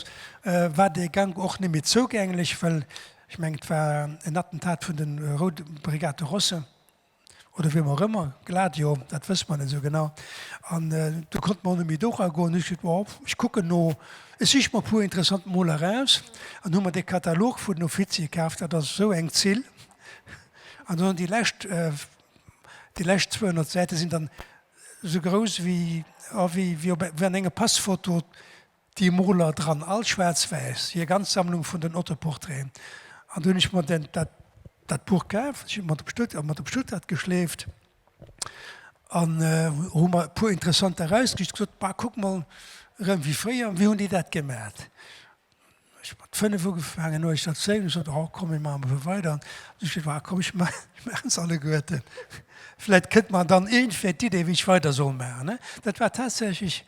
war dee Gank och net méi zougänglech, well ech mengen, et war en Attentat vun de Route Brigate Rosse oder wiem och ëmmer, Gladio, dat wësse mer net esou genau. An do konnte mer och net méi dora goen. Hu ech gesot, bon, ech kucken no, ech siche mer e puer interessant Moler eraus. An hu mer dee Katalog vun den Offiziere kaf. Dat ass esou eng Zill. An dann déi lescht, déi lescht 200 Säite sinn dann esou grouss wéi, oh, wéi, wéi op, wéi an enger Passphoto déi Moler dran, all schwaarzwäiss, hir ganz Sammlung vun den Autoportraiten. An du hunn ech mer den, dat, dat Buch kaf, ech hunn mat op Stutt, mat op Stuttgart geschleeft an hu mer e puer interessant erausgesicht, gesot, bah, kuck mol, rëm wéi fréier, wéi hunn déi dat gemat? Ech hun mat 5 ugefaangen, no eischter Zéilung sot ech, oh komm mir maachen emol weider, an du sot, ah komm ech maachen se alleguerten, vläit kënnt mer dann iergendwéi d'Idee wéi ech weider soll maachen. Dat war tatsächlech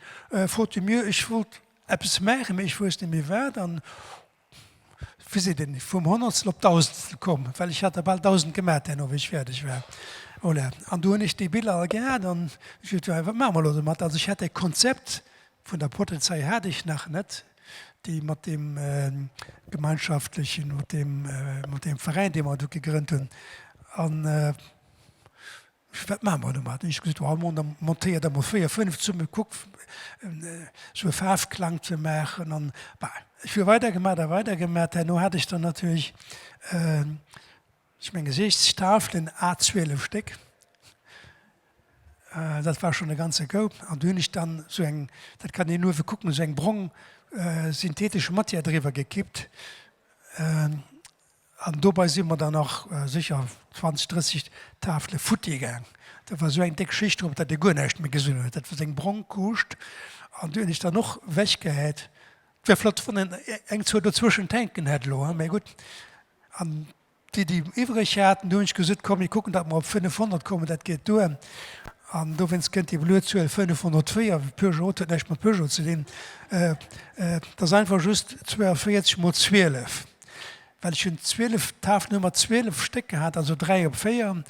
faute de mieux, ech wollt eppes maachen, mee ech wousst net méi wat, an wéi seet een, vum Honnertstel op Dausendstel komm, well ech hat der bal 1000 gemaach duerno wéi ech fäerdeg war. Voilà, an du hunn ech déi Biller all gehat, an ech sot, jo wat maache mer elo domat, also ech hat dat Konzept vun der Pottelsei hat ech nach net, déi mat deem gemeinschaftlechen, mat deem Veräin, dee mer do gegrënnt hunn, an wat maache mer domat? Hunn ech gesot, hei mol, da montéier der mol véier, fënnf zesummen, kuck esou e Faarfklang ze maachen an bah. Ech hu weider gemat a weider gemat. Herno hat ech dann natierlech. Zu menge Gesichtstafelen, a 12 Stéck, dat war schonn e ganze Coup. An do hunn ech dann esou eng, dat kann een uewe kucken, esou eng brong synthetesch Matière driwwer gekippt. An dobei si mer dann nach sécher 20, 30 Tafele futti gaang. Da war esou eng déck Schicht drop, datt ee guer näischt méi gesinn huet. Dat war esou eng brong Couche. An déi hunn ech dann och ewechgehäit. Wär flott, wann een eng, zwou dozwëschen d'hänken hätt elo, mee gutt, An déi, déi iwwereg haten, do hunn ech gesot, komm mir kucken, datt mer op 500 kommen, dat geet duer. An dowéinst kënnt déi blo Zuel 504. Peugeot huet näischt mat Peugeot ze dinn. Et ass einfach just 42 mol 12, well ech hunn 12, d'Hafnummer 12 Stéck gehat, also 3 op 4.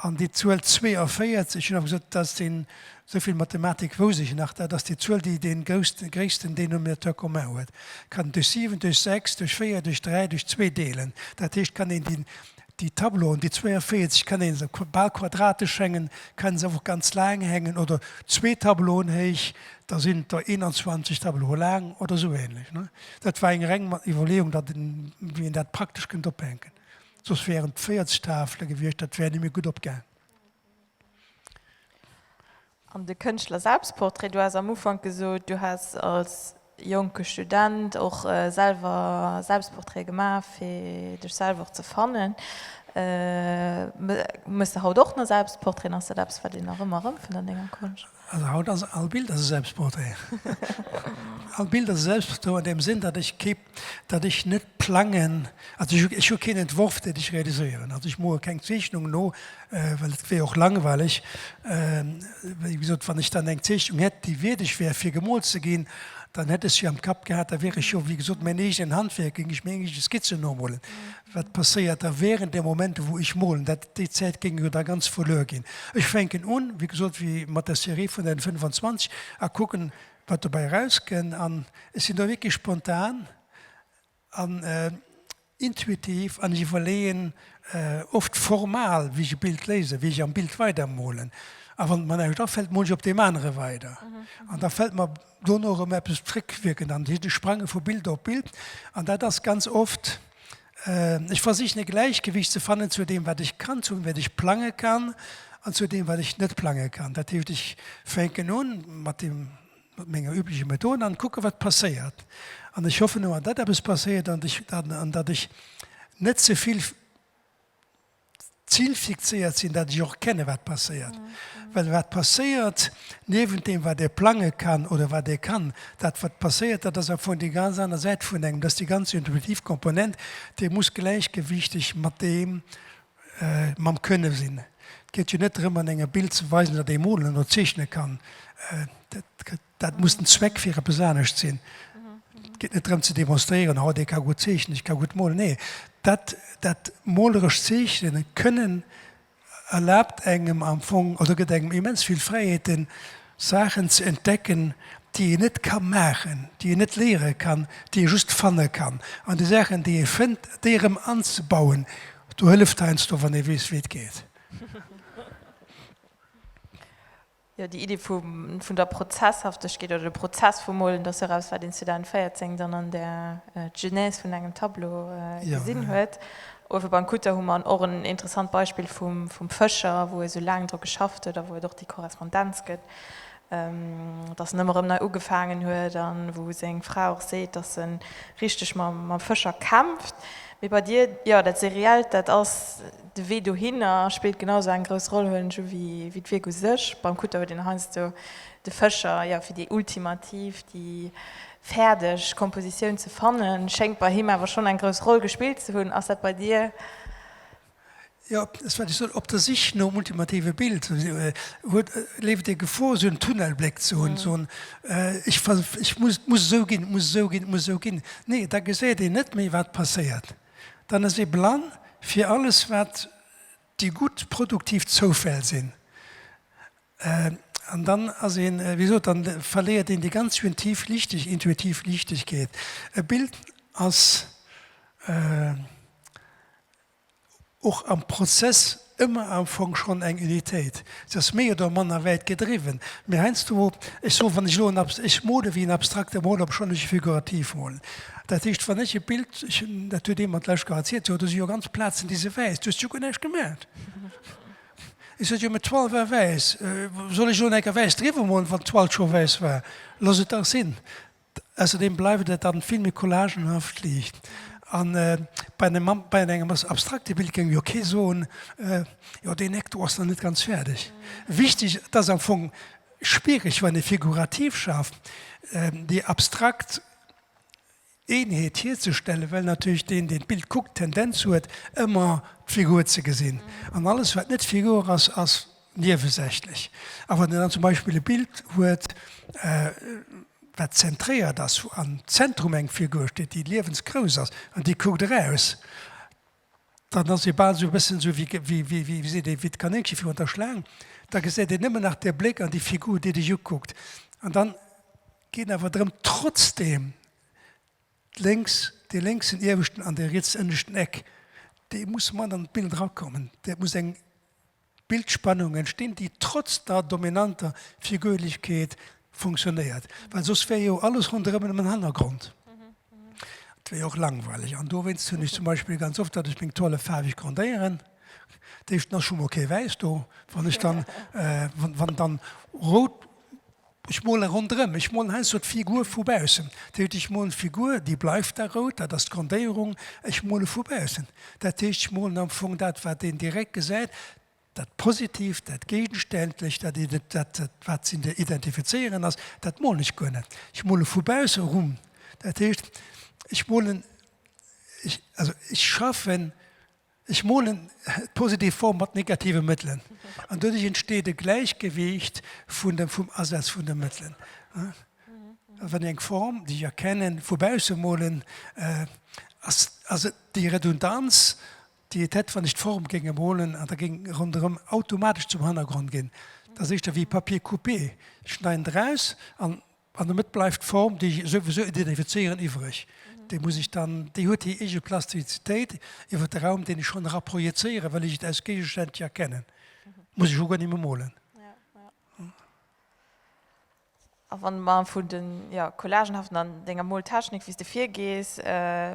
An déi Zuel 42, ech hunn awer gesot, dat ass den Sou vill Mathematik wouss ech nach, dat ass déi Zuel, déi dee gréissten Dénominateur commun huet. Kann een duerch 7, duerch 6, duerch 4, duerch 3, duerch 2 deelen. Dat heescht, kann een déi Tableauen, déi 42, kann ee se bal quadratesch hängen, kann se awer och ganz laang hängen oder zwee Tableauen héich, da sinn der 21 Tableaue laang oder sou ähnlech. Dat war eng reng Iwwerleeung, datt een, wéi een dat praktesch kënnt ophänken. Soss wären et 40 Tafele gewiescht, dat wär net méi gutt opgaang. An de Kënschtler Selbstportrait, du has am Ufank gesot, du häss als jonke Student och selwer Selbstportraite gemaach fir dech selwer och ze fannen. Méchs de haut och nach Selbstportraiten? Ass dat eppes wat een nach ëmmer erëmfënnt an denger Konscht? Also haut ass all Bild ass e Selbstportrait. All Bild ass e Selbstportrait an deem Sënn, datt ech kee dat ech net plangen, also ech hu keen Entworf deen ech realiséieren, also ech moe keng Zeechnung no, well et wier och langweileg. Wéi gesot, wann ech dann eng Zeechnung hätt déi wierdeg wär fir gemoolt ze ginn, dann hätt ech se jo am Kapp gehat, da wier ech jo wéi gesot mäin eegenen Handwierk, géing ech meng eege Skizzen nomolen. Wat passéiert da während dem Moment wou ech molen, dat déi Zäit géing jo da ganz verluer ginn. Ech fänken un, wéi gesot, wéi mat der Serie vun den 25 a kucken wat dobäi erauskënn an ech sinn do wierklech spontan an intuitiv an ech iwwerleeën oft formal, wéi ech e Bild léisen, wéi ech am Bild weidermolen a wann et mer näischt afält, mol ech op deem anere weider an da fält mer dono erëm eppes, d'Réckwierkend an d'Sprange vu Bild op Bild an dat ass ganz oft Ech versichen e Gläichgewicht ze fannen zu deem wat ech kann, zu wat ech plange kann an zu deem wat ech net plange kann. Dat heescht ech fänken un mat deem mat menger übleche Method an kucke wat passéiert. An ech hoffen ëmmer datt eppes passéiert an ech an datt ech net zevill. D'Zil fixéiert sinn, dat ech och kenne wat passéiert. Well wat passéiert, niewent deem wat ee plange kann oder wat ee kann, dat wat passéiert, dat ass am Fong déi ganz aner Säit vun engem, dat ass déi ganz intuitiv Komponent, déi muss gläichgewiichteg mat deem, mam Kënne sinn. Et geet jo net drëm an engem Bild ze weisen, datt ee molen oder zeechne kann. Dat muss den Zweck fir eppes anescht sinn. Et geet net drëm ze demonstréieren, oh dee ka gutt zeechnen, ech ka gutt molen. Nee, dat, dat molerescht Zeechnen kënnen erlaabt engem am Fong oder gëtt engem immens vill Fräiheeten, Saachen ze entdecken, déi een net ka maachen, déi een net léiere kann, déi ee just fanne kann. An déi Saachen, déi ee fënnt, déi erëm anzebauen, do hëlleft heiansdo wann ee weess wéi et geet. Jo, déi Idee vun der Prozesshaftegkeet oder de Prozess vum Molen, dass eraus, wat een 2014 dann an der Genèse vun engem Tableau gesinn huet. Uewe beim Kutter hu mer och en interessant Beispill vum Fëscher, wou e sou laang dru geschafft huet a wou et och déi Korrespondenz gëtt, dass en ëmmer erëm nei ugefaangen huet a wou seng Fra och seet, dass se richteg mam Fëscher kämpft. Mee bei dir, jo, dat Seriellt, dat ass. De Wee dohinner spillt genau esou eng grouss Roll, huelen ech u, wéi d'Wierk u sech. Beim Kutter huet een heiansdo de Fëscher, jo, fir déi ultimativ, déi fäerdeg Kompositioun ze fannen. Schéngt bei him awer schonn eng grouss Roll gespillt ze hunn. Ass dat bei dir? Jo, dat ass, wat ech soen, op der Sich nom ultimative Bild. Huet, leeft et ee Gefor, esou en Tunnelbléck ze hunn, ze soen, ech muss, et muss esou ginn, et muss esou ginn, et muss esou ginn. Nee, da geséiert een net méi, wat passéiert. dann ass ee blann fir alles wat déi gutt produktiv Zoufäll sinn an dann ass een, wéi gesot, dann verléiert een déi ganz intuitiv Lichteg, intuitiv Lichtegkeet. E Bild ass och am Prozess Ëmmer am Fong schonn eng Unitéit, se ass méi oder manner wäit gedriwwen, mee heiansdo, ech soen, wann ech elo en, ech mole wéi en abstrakte Moler, obschonn ech e figurativ molen, dat heescht, wann ech e Bild, ech hunn, dat huet ee mat lech gehad, seet jo, do si jo ganz Plazen, déi si wäiss, du hues jo guer näischt gemaacht. Ech sot jo, mä d'Toile war wäiss, soll ech elo eng Ecker wäiss driwwer molen, wann d'Toile scho wäiss war? Looss et dach sinn. Ausserdeem bleift et dann vill méi collagenhaft, liicht. An bei engem Mann, bei engem ass abstrakte Bild géing jo kee soen, jo deen Eck do ass nach net ganz fäerdeg. Wichteg, et ass am Fong schwiereg wann ee figurativ schaaft, déi abstrakt Eenheet hierzestellen, well natierlech deen, deen d'Bild kuckt, d'Tendenz huet ëmmer d'Figur ze gesinn. An alles wat net Figur ass, ass Niewesächlech. A wann Der dann zum Beispill e Bild huet, wat zentréiert ass, wou am Zentrum eng Figur steet, déi liewensgrouss ass an déi kuckt eraus, dann ass ee bal esou e bëssen esou wéi, wéi, wéi seet ee, wéi d'Kanéngche virun der Schlaang. Da gesäit een nëmmen nach de Bléck an déi Figur, déi dech ukuckt. An da geet awer drëm, trotzdeem d'lénks, dee lénksen ieweschten an dee rietsen ënneschten Eck, dee muss mat an d'Bild erakommen. Dat muss eng D'Bildspannung entstinn, déi trotz der dominanter Figürlechkeet funktionéiert, well soss wär jo alles ronderëm nëmmen den Hannergrond, dat wär jo och langweileg. An dowéinst hunn ech zum Beispill ganz oft, datt ech meng Toile faarweg grondéieren, d'éischten ass scho mol kee Wäiss do, wann ech dann, wann dann rout. Ech mole ronderëm, ech mol hei sou d'Figur vu baussen. Dat heescht, ech molen d'Figur, déi bleift da rout, dat ass d'Grondéierung. Ech mole vu baussen, dat heescht, ech molen am Fong dat, wat een direkt gesäit, dat Positiivt, dat Géigenständlecht, dat ee, dat, wat ze identifizéieren ass, dat molen ech guer net. Ech mole vu bausse rum, dat heescht, ech molen, ech, also ech schaffen Ech molen d'positiv Form mat negative Mëttelen an doduerch entsteet e Gläichgewiicht vun dem, vum Asaz vun de Mëttelen. A wann ech eng Form, déi ech erkenne, vu bausse molen, ass, ass et déi Redundanz, déi et hätt, wann ech d'Form géinge molen an da géing ronderëm automatesch zum Hannergrond ginn. Dat ass éischter wéi Papier coupé, ech schneiden eraus an An domat bleift d'Form, déi ech souwisou identifizéieren, iwwreg. Déi muss ech dann, déi huet hir eege Plastizitéit iwwer de Raum, deen ech schonn era projezéieren, well ech et aus Géigestänn jo erkennen. Muss ech jo guer net méi molen. A wann mer vun de collagenhaften an denger Moltechnik, wéi s de virgees,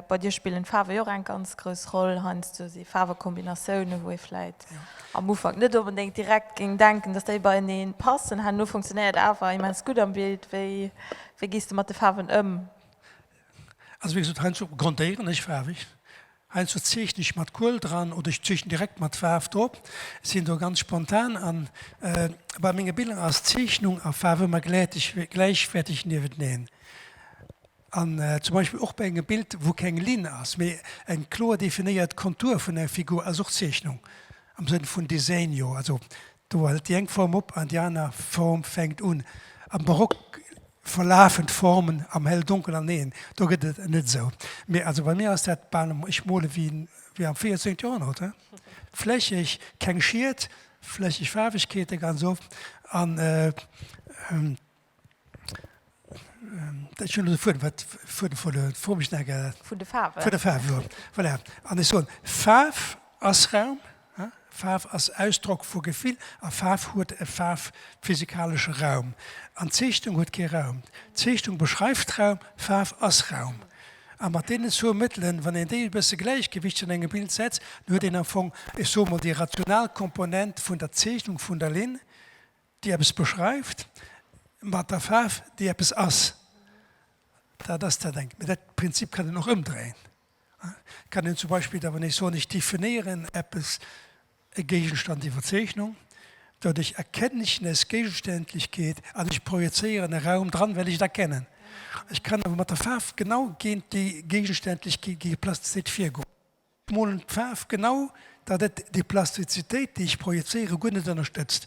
bei dir spillen d'Faarwe jo och eng ganz grouss Roll, heiansdo si Faarwekombinatiounen, wou ee vläit am Ufank net onbedéngt direkt géing denken, dass déi beieneen passen. Herno funktionéiert awer immens gutt am Bild. Wéi gees de mat de Faarwen ëm? Also wéi gesot, heiansdo grondéieren ech faarweg, heiansdo zeechnen ech mat Kuel dran oder ech zeechnen direkt mat Faarf drop, sinn do ganz spontan. An bei menge Biller ass Zeechnung a Faarf ëmmer gläichwäerteg niewent neen. An zum Beispill och bei engem Bild, wou keng Linn ass, mee eng kloer definéiert Kontur vun enger Figur, ass och Zeechnung am Sënn vun Desenio. Also do hält déi eng Form op an déi aner Form fänkt un. Am Barock verlafen d'Formen am Hell-Donkel an een, do gëtt et net esou. Mee also bei mir ass dat bal, ech mole wéi wéi am 14 Joerhonnert, flächeg, keng Schiet, flächeg Faarwegkeete ganz oft an. Faarf ass Raum, Faarf ass Ausdrock vu Gefill a Faarf huet e faarfphysikalesche Raum. An d'Zeechnung huet kee Raum. D'Zeechnung beschreift Raum, Faarf ass Raum. A mat deenen zwou Mëttelen, wann een déi e bësse gläichgewichteg an engem Bild setzt, huet een am Fong, ech soe mol, déi rational Komponent vun der Zeechnung vun der Linn, déi eppes beschreift mat der Faarf, déi eppes ass, dat ass dat engt. Mä dat Prinzip kann een och ëmdréien. Et kann een zum Beispill da wann ech soen, ech definéieren eppes, e Géigenstand, déi Verzeechnung, doduerch erkenne ech nes Gegenständlechkeet an ech projezéieren e Raum dran, well ech et erkennen. Ech kann awer mat der Faarf genau géint déi Gegenständlechkeet, géint déi Plastizität virgoen. Molen d'Faarf genau, datt et déi Plastizitéit, déi ech projezéiere, guer net ënnerstëtzt.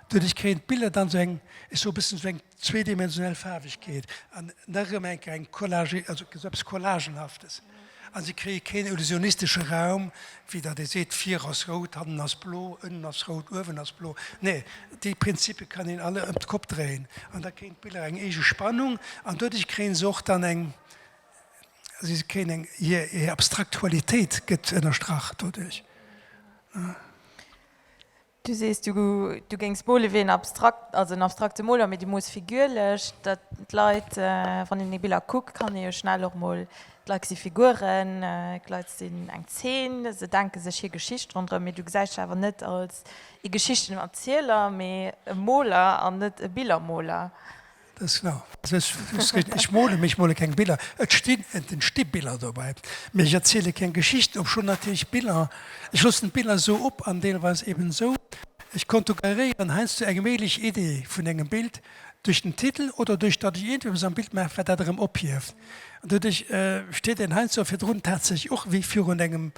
Doduerch kréien d'Biller dann esou eng, ech soe bëssen esou eng zweedimensionell Faarwegkeet an nach erëm enker eng Collage, also esou eppes Collagenhaftes. A se kréie keen illusionistesche Raum, wéi datt ee seet, vir ass rout, hannen ass blo, ënnen ass rout, uewen ass blo. Nee, déi Prinzippe kann een alle ëm d'Kopp dréien an da kréien d'Biller eng eege Spannung an doduerch kréien se och dann eng Si kréien eng, hir abstrakt Qualitéit gëtt ënnerstrach doduerch. Du sees, du géings mole wéi en abstrakt, also en abstrakte Moler, mee du moos figürlech, datt d'Leit, wann een déi Biller kuckt, kann ee jo schnell och mol, d'Leit si Figuren, d'Leit sinn eng Zeen, se denke sech hir Geschicht ronderëm. Mee du gesäis dech awer net als ee Geschichtenerzieler, mee e Moler an net e Billermoler. Ech mole mech, ech mole keng Biller. Et stinn, et entsti Biller dobäi, mä ech erziele keng Geschichten, obschonn natierlech Biller, ech loossen d'Biller esou op an deelweis eben esou. Ech kontugeréieren heiansdo eng méiglech Idee vun engem Bild duerch den Titel oder duerch datt ech iergendepes am Bild maachen, wat dat erëm ophieft. An doduerch steet een heiansdo virdrun tatsächlech och wéi virun engem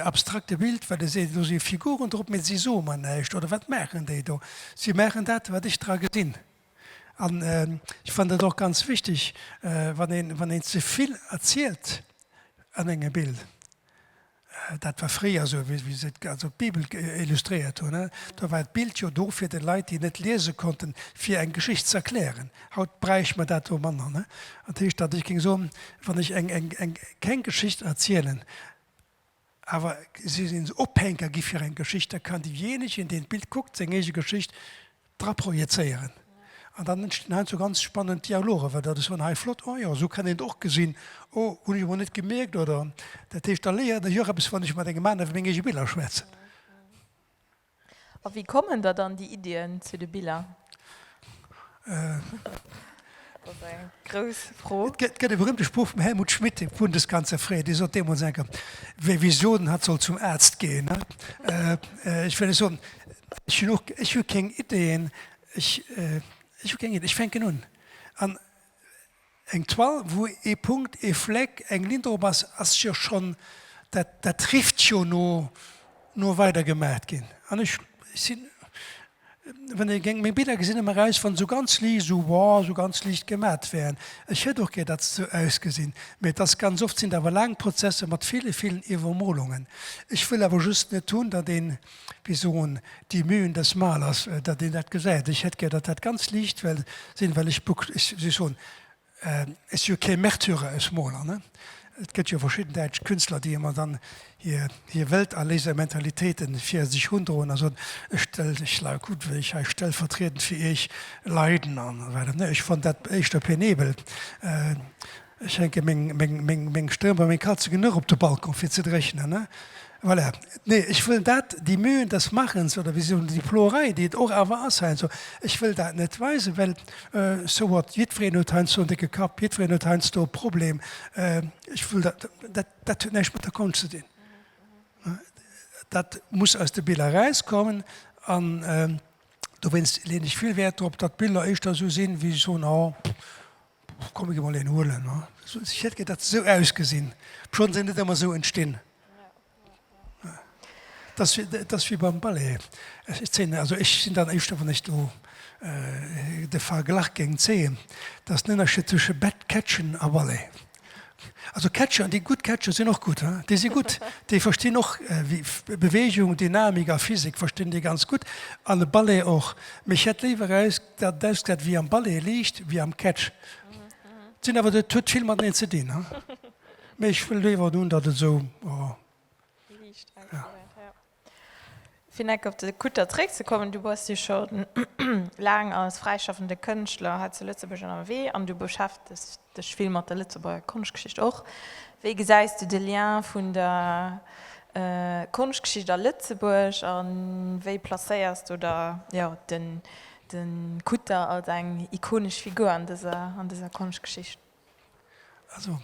abstrakte Bild, wat ee seet, do si Figuren drop, mä si soe mer näischt oder wat maachen déi do? Si maachen dat, wat ech dra gesinn. An ech fannen dat och ganz wichteg, wann een ze vill erzielt an engem Bild, dat war fréier esou, wéi se also d'Bibel illustréiert hunn, do war d'Bild jo do fir de Leit, déi net liese konnten, fir eng Geschicht ze erklären. Haut bräicht mer dat do manner. Dat heescht, datt ech géing soen, wann ech keng Geschicht erzielen, Awer si sinn esou Ophänker gi fir eng Geschicht, da kann deejéinegen, deen d'Bild kuckt, seng eege Geschicht dra projezéieren. An dann entstinn heiansdo ganz spannend Dialogen, well dat ass dann hei flott, oh jo, esou kann een et och gesinn, oh, hunn ech emol net gemierkt. Oder, dat heescht, da léieren ech och eppes, wann ech mat engem aner iwwer meng eege Biller schwätzen. A wéi kommen der dann déi Iddien zu de Biller? Dat ass eng grouss Fro. Et gëtt e berühmte Spruch vum Helmut Schmidt, dem Fund des ganze Fred, dee sot deemools eng Kéier, Wer Visionen hat, soll zum Arzt gehen. Ech wëll lech soen, ech hunn och, ech hu keng Iddien, ech hu keng Iddien, ech fänken un. Eng Toile wou ee Punkt, ee Fleck, eng Linn drop ass, ass jo schonn, dat dat rifft jo no no weider gemaacht ginn. An ech sinn, wann ee géng meng Biller gesinn, ëmmer raus, wann se sou ganz liicht, esou wow, esou ganz liicht gemaacht wären. Ech hätt och gär, datt se sou ausgesinn, mä et ass ganz oft, sinn et awer laang Prozesser mat ville villen Iwwermolungen. Ech wëll awer just net hunn, datt een wéi soen, die Mühen des Malers, datt een dat gesäit. Ech hätt gär, datt dat ganz liicht well sinn, well ech, wéi soll ech soen, ech si jo kee Märtyrer, ech Moler, ne. Et gëtt jo verschidden däitsch Künstler, déi ëmmer dann hir, hir Welterléisermentalitéite fir sech rundroen a soen, ech stell, ech la, kuckt wéi ech hei stellvertriedend fir iech leiden an esou weider, ne. Ech fonnt dat éischter penébel. Ech hänke meng Stëmm bei meng Katzen genuch op de Balcon, fir ze dréchnen. Voilà. Nee, ech wëll dat, die Mühen des Machens, oder wéi soen, déi Ploerei, déi et och awer ass heiansdo, ech wëll dat net weisen, well so what, jiddwereen huet heiansdo en décke Kapp, jiddwereen huet heiansdo e Problem. Ech wëll dat, dat, dat huet näischt mat der Konscht ze dinn. Dat muss aus de Biller erauskommen. An dowéinst leeën ech vill Wäert drop, datt d'Biller éischter esou sinn, wéi ech soen, oh, Och komm ech emol een huelen. Ech hätt gär dat se sou ausgesinn. D'Schorten sinn net ëmmer sou entstinn. Et ass, et ass wéi beim Ballet. Ech zéien, also ech sinn dann éischter wann ech do de Verglach géing zéien, datt den Ënnerscheed zwësche Bett, Catchen a Ballet. Also Catcheren, déi gutt catchen, sinn och gutt, hein. Déi si gutt. Déi verstinn och Beweegung, Dynamik a Physik verstinn déi ganz gutt. An de Ballet och. Mee ech hätt léiwer eis Dat ass dat wéi am Ballet liicht wéi am Catch. Et sinn awer, et huet vill mateneen ze dinn, mee ech wëll léiwer hunn, datt et esou liicht ausgesäit. Fir neck op de Kutter zréckzekommen, Du bass jo scho laang als fräischaffende Kënschtler hei zu Lëtzebuerg ënnerwee an du beschäftegs dech vill mat der Lëtzebuerger Konschtgeschicht och. Wéi gesäis du de Lien vun der Konschtgeschicht a Lëtzebuerg a wéi placéiers du da de Kutter als eng ikonesch Figur an dëser Konschtgeschicht? Also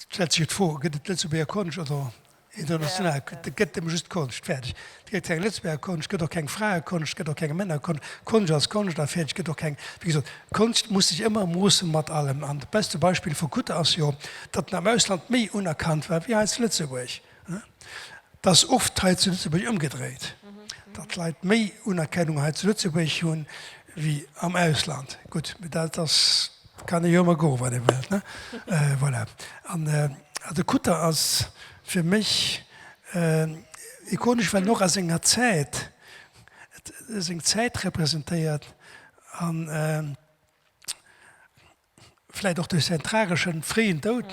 et stellt sech jo d'Fro, gëtt et Lëtzebuerger Konscht oder international? Et gëtt ëmmer just Konscht, fäerdeg. Gëtt keng Lëtzebuerger Konscht, gëtt och keng Fraekonscht, gëtt och keng Männerkonscht. Konscht ass Konscht a fäerdeg. Gëtt och keng. Wéi gesot, Konscht muss sech ëmmer moosse mat allem. An dat beschte Beispill vu Kutter ass jo, datt en am Ausland méi unerkannt war wéi hei zu Lëtzebuerg. Et ass oft hei zu Lëtzebuerg ëmgedréit, datt d'Leit méi Unerkennung hei zu Lëtzebuerg hu wéi am Ausland. Gutt, mee dat ass, kann ee jo ëmmer goen, wat ee wëllt. Voilà. An also Kutter ass fir mech. Ikonesch well en och a senger Zäit, seng Zäit representéiert an vläit och duerch säin trageschen fréien Doud,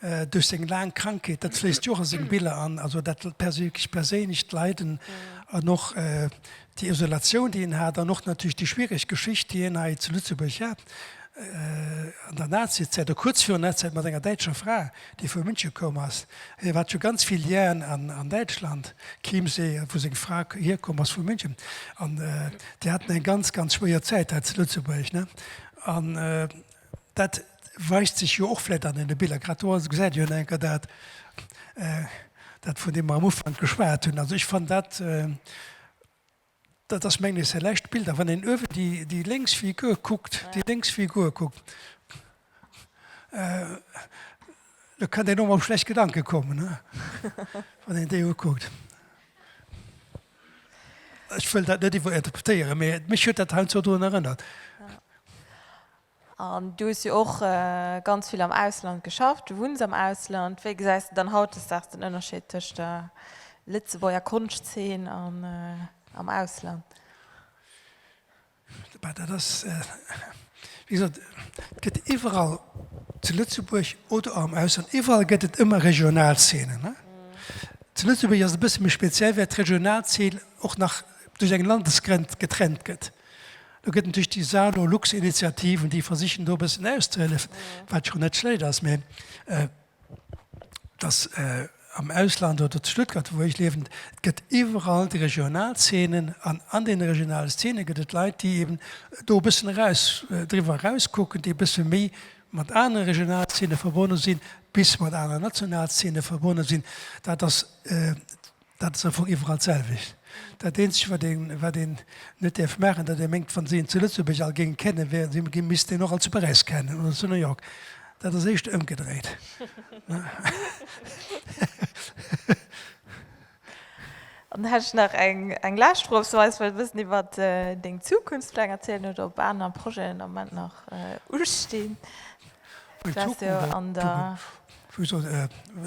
duerch seng laang Krankheet, dat fléisst jo och a seng Biller an. Also dat perséinlecht Leiden an och Déi Isolatioun, déi en hat, an och natierlech déi schwiereg Geschicht, déi en hei zu Lëtzebuerg hat an der Nazizäit, a kuerz virun Nazizäit mat enger däitscher Fra, déi vu München koum ass. Hien hat jo ganz vill Lien an Däitschland, Chiemsee, wou seng Fra hierkomm ass vu München. An déi haten eng ganz, ganz schwéier Zäit hei zu Lëtzebuerg. Dat weist sech jo och vläicht an deene Biller grad do. Also gesäit Dir jo nach eng Kéier dat, dat vun deem mer am Ufank geschwat hunn. Also ech fannen dat, dat ass mengen ech säi lescht Bild. A wann een uewen déi, déi lénks Figur kuckt, déi lénks Figur kuckt, Do kënnt een och mol op schlecht Gedanke kommen, wann een déi ukuckt. Ech wëll dat net iwwerinterpretéieren, mee mech huet dat heiansdo dorun erënnert. An du hues jo och ganz vill am Ausland geschafft, du wunns am Ausland. Wéi gesäis de dann hautdesdaags den Ënnerscheed tëscht der Lëtzebuerger Konschtzeen an am Ausland? Bah, dat ass, wéi gesot, et gëtt iwwerall zu Lëtzebuerg oder och am Ausland, iwwerall gëtt et ëmmer regional Zeenen. Zu Lëtzebuerg ass et e bësse méi speziell, well d'regional Zeen och nach duerch eng Landesgrenz getrennt gëtt. Do gëtt natierlech déi Saarlor-Lux-Initiative, déi versichen do e bëssen auszehélefen, wat schonn net schlecht ass, mä dass am Ausland oder zu Stuttgart, wou ech liewen, et gëtt iwwerall déi regional Zeenen an an deene regionale Zeene gëtt et Leit, déi eeben do e bëssen eraus, driwwer erauskucken, déi e bësse méi mat anere regional Zeene verbonne sinn, bis mat aneren national Zeene verbonne sinn. Dat ass. Dat ass am Fong iwwerall d'selwecht. Dat eenzegt, wat een, wat een net däerf maachen, datt ee mengt, wa se een zu Lëtzebuerg all géing kennen, wär si, gi misst een och all zu Paräis kennen oder zu New York. Dat ass éischter ëmgedréit. Dann hätt ech nach eng, eng lescht Fro, ob s du eis wëllt e bëssen iwwer deng Zukunftspläng erzielen oder ob aner Projeten am Moment nach ustinn.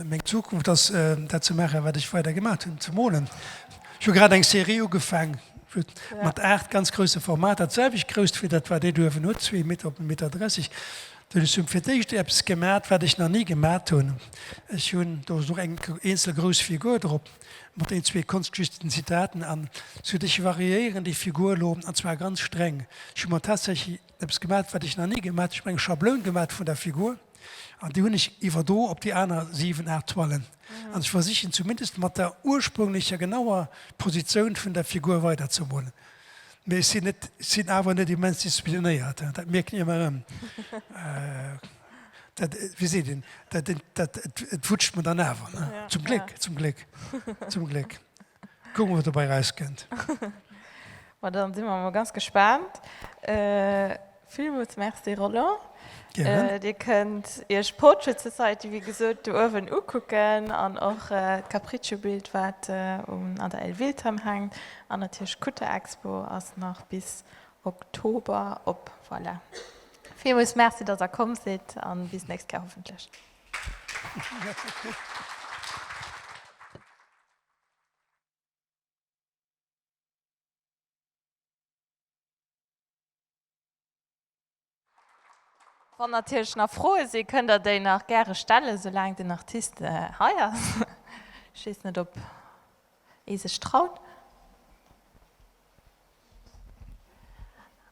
Meng Zukunft ass dat ze maachen, wat ech weider gemaat hunn, ze molen. Ech hu grad eng Serie ugefaang mat 8 ganz grousse Formater, d'selwecht grousst wéi dat wat dir do uewen hutt, zwee Meter op e Meter 30. Well ech hunn fir d'éischt eppes gemaat, wat ech nach ni gemaat hunn. Ech hunn, do ass och eng eenzel grouss Figur drop, mat een, zwee Konschtgeschichten, Zitaten an esou. Ech variéieren déi Figur elo, an zwar ganz streng. Ech hu mer tatsächlech eppes gemat wat ech nach ni gemat hunn, ech hunn eng Schabloun gemat vun der Figur an déi hunn ech iwwerdro op déi aner 7, 8 Toilen an ech versichen zumindest mat der ursprünglecher genauer Positioun vun der Figur weider ze molen. Mee ech sinn net, ech sinn awer net immens disziplinéiert, dat mierken ech ëmmer erëm. Dat, wéi seet een, dat, dat, et wutscht mer dann awer, zum Gléck, zum Gléck, zum Gléck. Kucken wat dobei raus kennt. Ma dann sin mer emol ganz gespaant. Villmols Merci Roland. Gären. Dir kënnt iech Portrait Society wéi gesoot do uewen ukucken an och d'Capriccio Bild wat an der Elvilton hänkt an natierlech d'Kutter Expo ass nach bis Oktober op. Voilà. Villmols Merci dass der komm sidd an bis nächst Kéier hoffentlech. Wann natierlech nach Froe sinn, kënnt der déi nach gäre stellen, soulaang den Artist hei ass. Ech weess net, ob ee sech traut.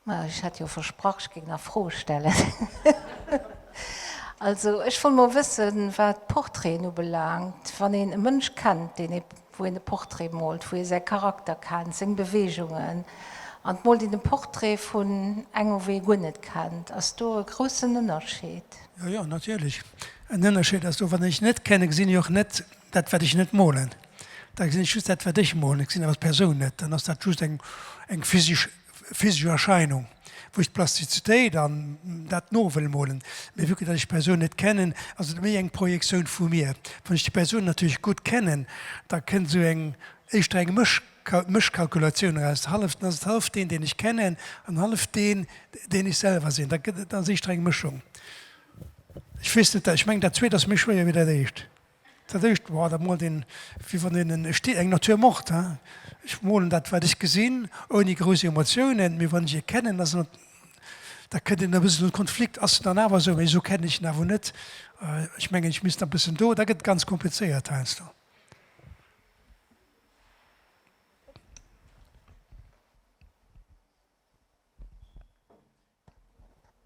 Maja, ech hat jo versprach, ech géing nach Froe stellen. Also, ech wollt mol wëssen, wat Portraiten ubelaangt, wann een e Mënsch kennt, deen ee, wou een e Portrait moolt, wou ee säi Charakter kennt, seng Beweegungen, an et moolt een e Portrait vun engem, wou ee guer net kennt, ass do e groussen Ënnerscheed? Jo, jo, natierlech. En Ënnerscheed ass do. Wann ech net kenne, gesinn ech och net dat, wat ech net molen. Da gesinn ech just dat wat ech molen, ech gesinn awer d'Persoun net, dann ass dat just eng eng physisch physisch Erscheinung wou ech d'Plastizitéit an dat no wëll molen. Mee vu que datt ech d'Persoun net kennen, ass et méi eng Projektioun vu mir. Wann ech déi Persoun natierlech gutt kennen, da kënnt esou eng éischter eng Mësch Mëschkalkulatioun eraus, hallef dann ass et hallef deen deen ech kennen an hallef deen deen ech selwer sinn, da gëtt et ass éischter eng Mëschung. Ech weess net, ech mengen dat zweet ass méi schwéier wéi dat éischt. Dat éischt war da mol den, wéi wann een en, ech di eng nature morte, hein, ech molen dat wat ech gesinn, ouni grouss Emotiounen, mee wann ech e kennen, ass en, da kënnt een e bëssen un de Konflikt, ass en dann awer esou, wéi esou kennen ech en awer net, ech mengen ech misst nach e bëssen do, da gëtt et ganz komplizéiert heiansdo.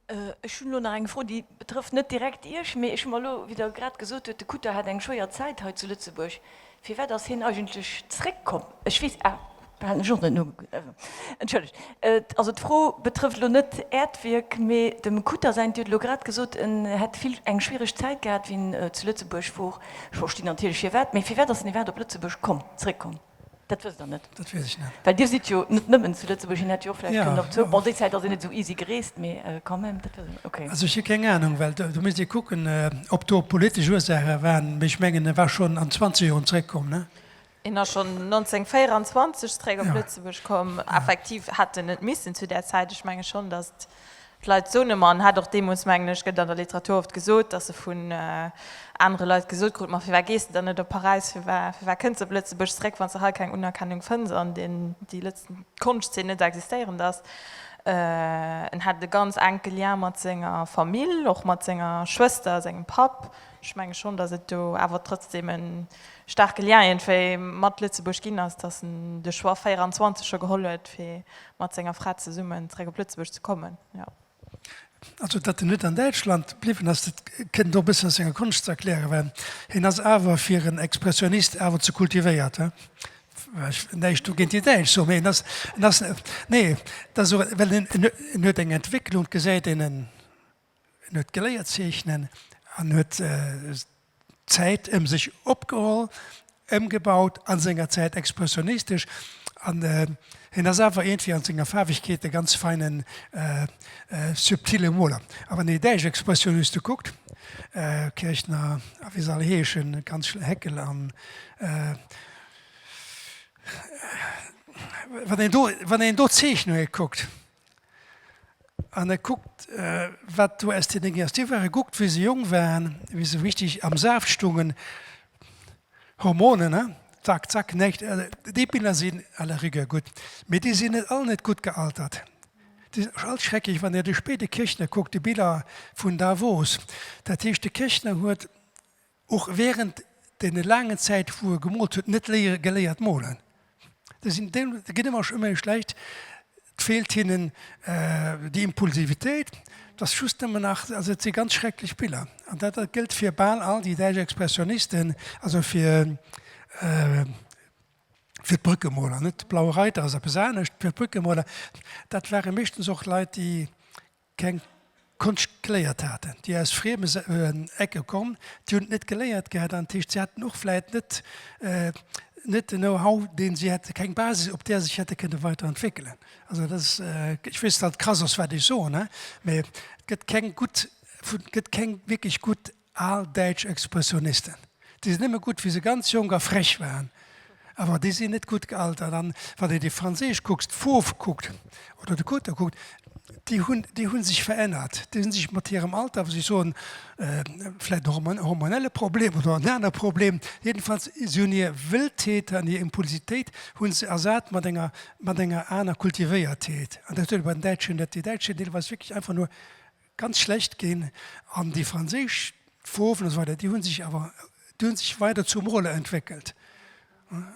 Ech hunn elo nach eng Fro, déi betrëfft net direkt Iech, mee ech hu mer elo, wéi Der grad gesot hutt, de Kutter hat eng schwéier Zäit hei zu Lëtzebuerg, firwat ass hien eigentlech zeréckkomm? Ech weess, ah, dat hat ech och net nogekuckt, entschëllegt. Also d'Fro betrëfft elo net Äert Wierk, mee dem Kutter säint. Dir hutt elo grad gesot, en hätt vill, eng schwiereg Zäit gehat, wéi en zu Lëtzebuerg wor. Ech verstinn natierlech firwat, mee firwat ass en iwwerhaapt op Lëtzebuerg komm, zeréckkomm? Dat wësst Der net? Dat weess ech net. Well Dir sidd jo net nëmmen zu Lëtzebuerg, hien hätt jo och vläicht kënnen op Zypern. Bon, déi Zäit ass een net esou easy gereest, mee quand même, dat wësst Der net? Ok. Also ech hu keng Anung, well do misst ee kucken, ob do politesch Ursaache waren. Mee ech mengen, e war schonn an zwanzeg Joren zeréckkomm, ne? Hien ass schonn 1924 zeréck op Lëtzebuerg komm. Effektiv hätt en net missen zu där Zäit. Ech menge schonn, datt D'Leit soen ëmmer, an hat och deemools, mengen ech, gëtt an der Literatur oft gesot, datt se vun anere Leit gesot kruten, ma firwat gees de dann net op Paräis, firwat kënns de op Lëtzebuerg zeréck, wann s de hei keng Unerkennung fënns an déi Konschtzeen net existéierend ass? En hat e ganz enke Lien mat senger Famill, och mat senger Schwëster, sengem Papp. Ech menge schonn, datt et do awer trotzdem e staarke Lien iergendwéi mat Lëtzebuerg ginn ass, datt en de Choix 24 scho geholl huet, fir mat senger Fra zesummen zeréck op Lëtzebuerg ze kommen. Jo. Also datt en net an Däitschland bliwwen ass, dat kënnt och e bëssen aus senger Konscht ze erklären, well hien ass awer fir en Expressionist awer ze kultivéiert. Ech wëll näischt do géint déi Däitsch soen, mee en ass, en ass, nee, dat ass och, well en huet eng Entwécklung, gesäit een en, En huet geléiert zeechnen an huet d'Zäit ëm sech opgeholl, ëmgebaut a senger Zäit expressionistesch. An hien ass awer iergendwéi an senger Faarwegkeet e ganz feine subtille Moler. A wann ee däitsch Expressioniste kuckt, Kirchner a wéi se all heeschen, ganz schl, Heckel an, wann een do, wann een do d'Zeechnunge kuckt, An e kuckt, wat do aus deene Gerstier war. E kuckt, wéi se jong waren, wéi se richtig am Saaft stoungen. Hormonen, he? Zack, zack, näischt. Déi Biller sinn à la rigueur gutt. Mee déi sinn net all net gutt gealtert. Déi sinn och all schrecklech. Wann Der de Spé de Kirchner kuckt, déi Biller vun Davos. Dat heescht, de Kirchner huet Och während den laangen Zäit wou e gemoolt huet net léiere geléiert molen. Déi sinn déi ginn ëmmer ëmmer méi schlecht. Et feelt hinnen déi Impulsivitéit. Et ass just nëmmen nach, also et si ganz schrecklech Biller an dat gëllt fir bal all déi däitsch Expressionisten, also fir fir d'Brückemoler net. Blaue Reiter ass eppes anescht. Fir d'Brückemoler, dat ware meeschtens och Leit déi keng Konscht geléiert haten, déi aus frieme Ecke kommen, déi hunn et net geléiert gehat an dat heescht, si haten och vläicht net net den Know-how, dee si hätte keng Basis, op där se sech hätte kënne weider entwéckelen. Also dat ass, ech weess, datt et krass ass, wat ech soen, mä et gëtt keng gutt, gëtt keng wierklech gutt Al däitsch Expressionisten, déi sinn nëmme gutt, wéi se ganz jonk a frech waren, awer déi sinn net gutt gealtert. An wann ee déi Franséisch kuckt, d'Fauves kuckt oder de Cotter kuckt, déi hunn, déi hu sech verännert. Déi hu sech mat hirem Alter, wou si soen, vläicht och en hormonelle Problem oder en anere Problem, jedenfalls, si hunn hir Wëlltheet an hir Impulsitéit hu se ersat mat enger, mat enger aner Kultivéiertheet. An dat huet ee bei den Däitschen net. Déi Däitsch sinn deelweis wierklech einfach nur ganz schlecht ginn an déi franséisch Foarwen esou weider, déi hunn sech awer, déi hunn sech weider zu Mole entwéckelt.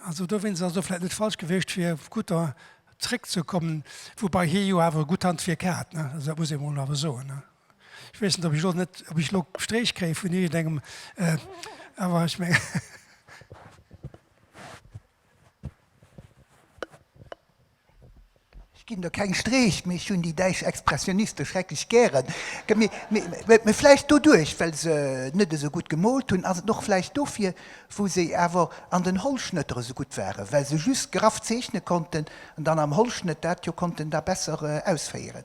Also do wéinst ass et och vläicht net falsch gewiescht fir Kutter zréckzekommen, woubei hie jo awer e gutt Handwierk hat, ne, also dat muss ee mol awer soen, ne. Ech weess net, ob ech elo net, ob ech elo Stréich kréie vun iergendengem, awer ech mengen. Ech ginn do keng Streech, mee ech hunn déi däitsch Expressioniste schrecklech gären. Mee vläicht doduerch, well se net esou gutt gemoolt hunn. Ass et och vläicht dofir, wou se awer an den Hollschnëtter esou gutt waren, well se just graff zeechne konnten an dann am Hollschnëtt dat jo konnten da besser ausféieren.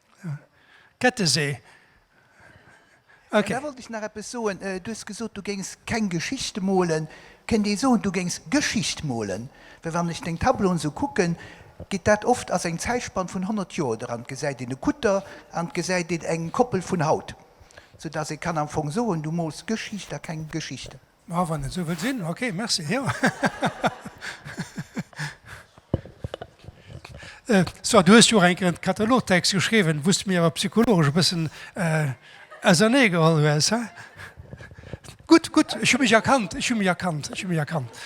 Kettesee. Ok. Da wollt ech nach eppes soen. Du hues gesot, du géings keng Geschichte molen. Kënnt ee soen, du géings Geschicht molen? Well wann ech deng Tableauen esou kucken, geet dat oft, ass eng Zäitspann vun 100 Joer dran, et gesäit een e Kutter an et gesäit een eng Koppel vun haut, soudatt ee kann am Fong soen, du mols Geschicht a keng Geschichte. Ma wann et esou wëll sinn, ok, merci, jo. Soit, du hues jo och eng Kéier en Katalogtext geschriwwen, wou s de mir awer psychologesch e bëssen ausernee geholl hues, he? Gutt, gutt, ech hu mech erkannt, ech hu mech erkannt, ech hu mech erkannt.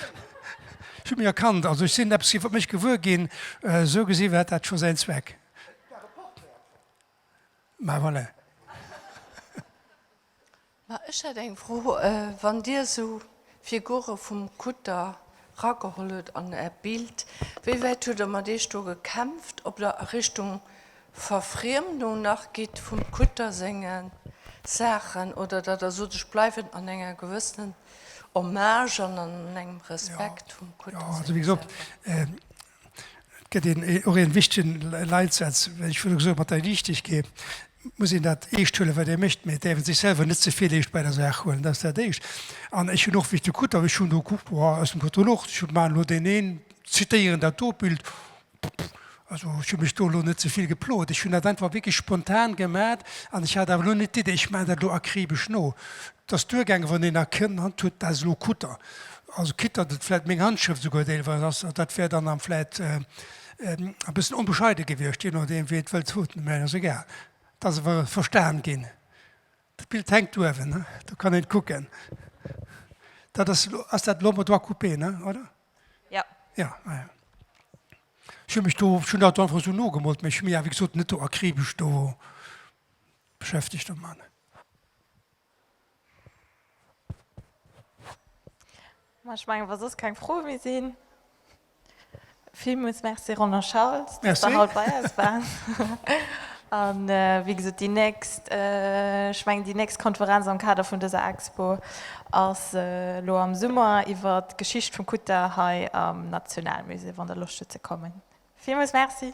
Ech hu mech erkannt. Also ech sinn eppes iwwer mech gewuer ginn. Esou gesinn hat dat scho säin Zweck. Ma voilà. Ma ech hätt eng Fro, Wann Dir esou Figure vum Kutter rageholl hutt an Äert Bild, wéi wäit hutt Der mat Iech do gekämpft, ob Der a Richtung Verfriemdung nach gitt vum Kutter senge Saachen oder datt Der sot, ech bleiwen an enger gewëssenen Hommage an an engem Respekt vum Kutter senge Saachen? Et gëtt een och ee wichtegen Leitsaz, well ech virdu gesot mat der Liichtegkeet muss een dat eescht huelen, wat ee mécht, mee et däerf ee sech selwer net ze vill eescht bei der Saach huelen. Dat ass dat Éischt. An ech hunn och, wéi ech de krut hunn, ech hunn do gekuckt, bon, aus dem Katalog, ech hu maachen elo deen een, zitéieren dat do Bild, also ech hu mech do elo net ze vill geplot. Ech hunn dat einfach wierklech spontan gemat an ech hat awer elo net d'Idee, ech maachen dat elo akribesch no. Et ass duergaangen, wann een erkannt huet, dat ass elo kutter. Also kritt datt et vläit meng Handschrëft esouguer deelweis ass, dat wär dann am vläit e bëssen onbescheide gewiescht, jee nodeem wéi et wëllt voten, mä et ass egal. Et ass awer verstan ginn. Dat Bild hänkt uewen, do kann een et kucken. Dat ass elo, ass dat elo am droit coupé, ne, oder? Jo. Jo, ah jo. Ech hunn mech do, ech hunn dat do einfach esou nogemoolt, mä ech hunn mech awer, wéi gesot, net do akribesch do beschäftegt domat. Ma ech mengen, wa soss keng Froe méi sinn. Villmools Merci Roland Schauls, dass de haut bei eis waars. A wéi gesot, déi nächst, ech mengen déi nächst Konferenz am Kader vun dëser Expo ass elo am Summer iwwert d'Geschicht vum Kutter hei am Nationalmusée, wann der Loscht hutt ze kommen. Villmools Merci.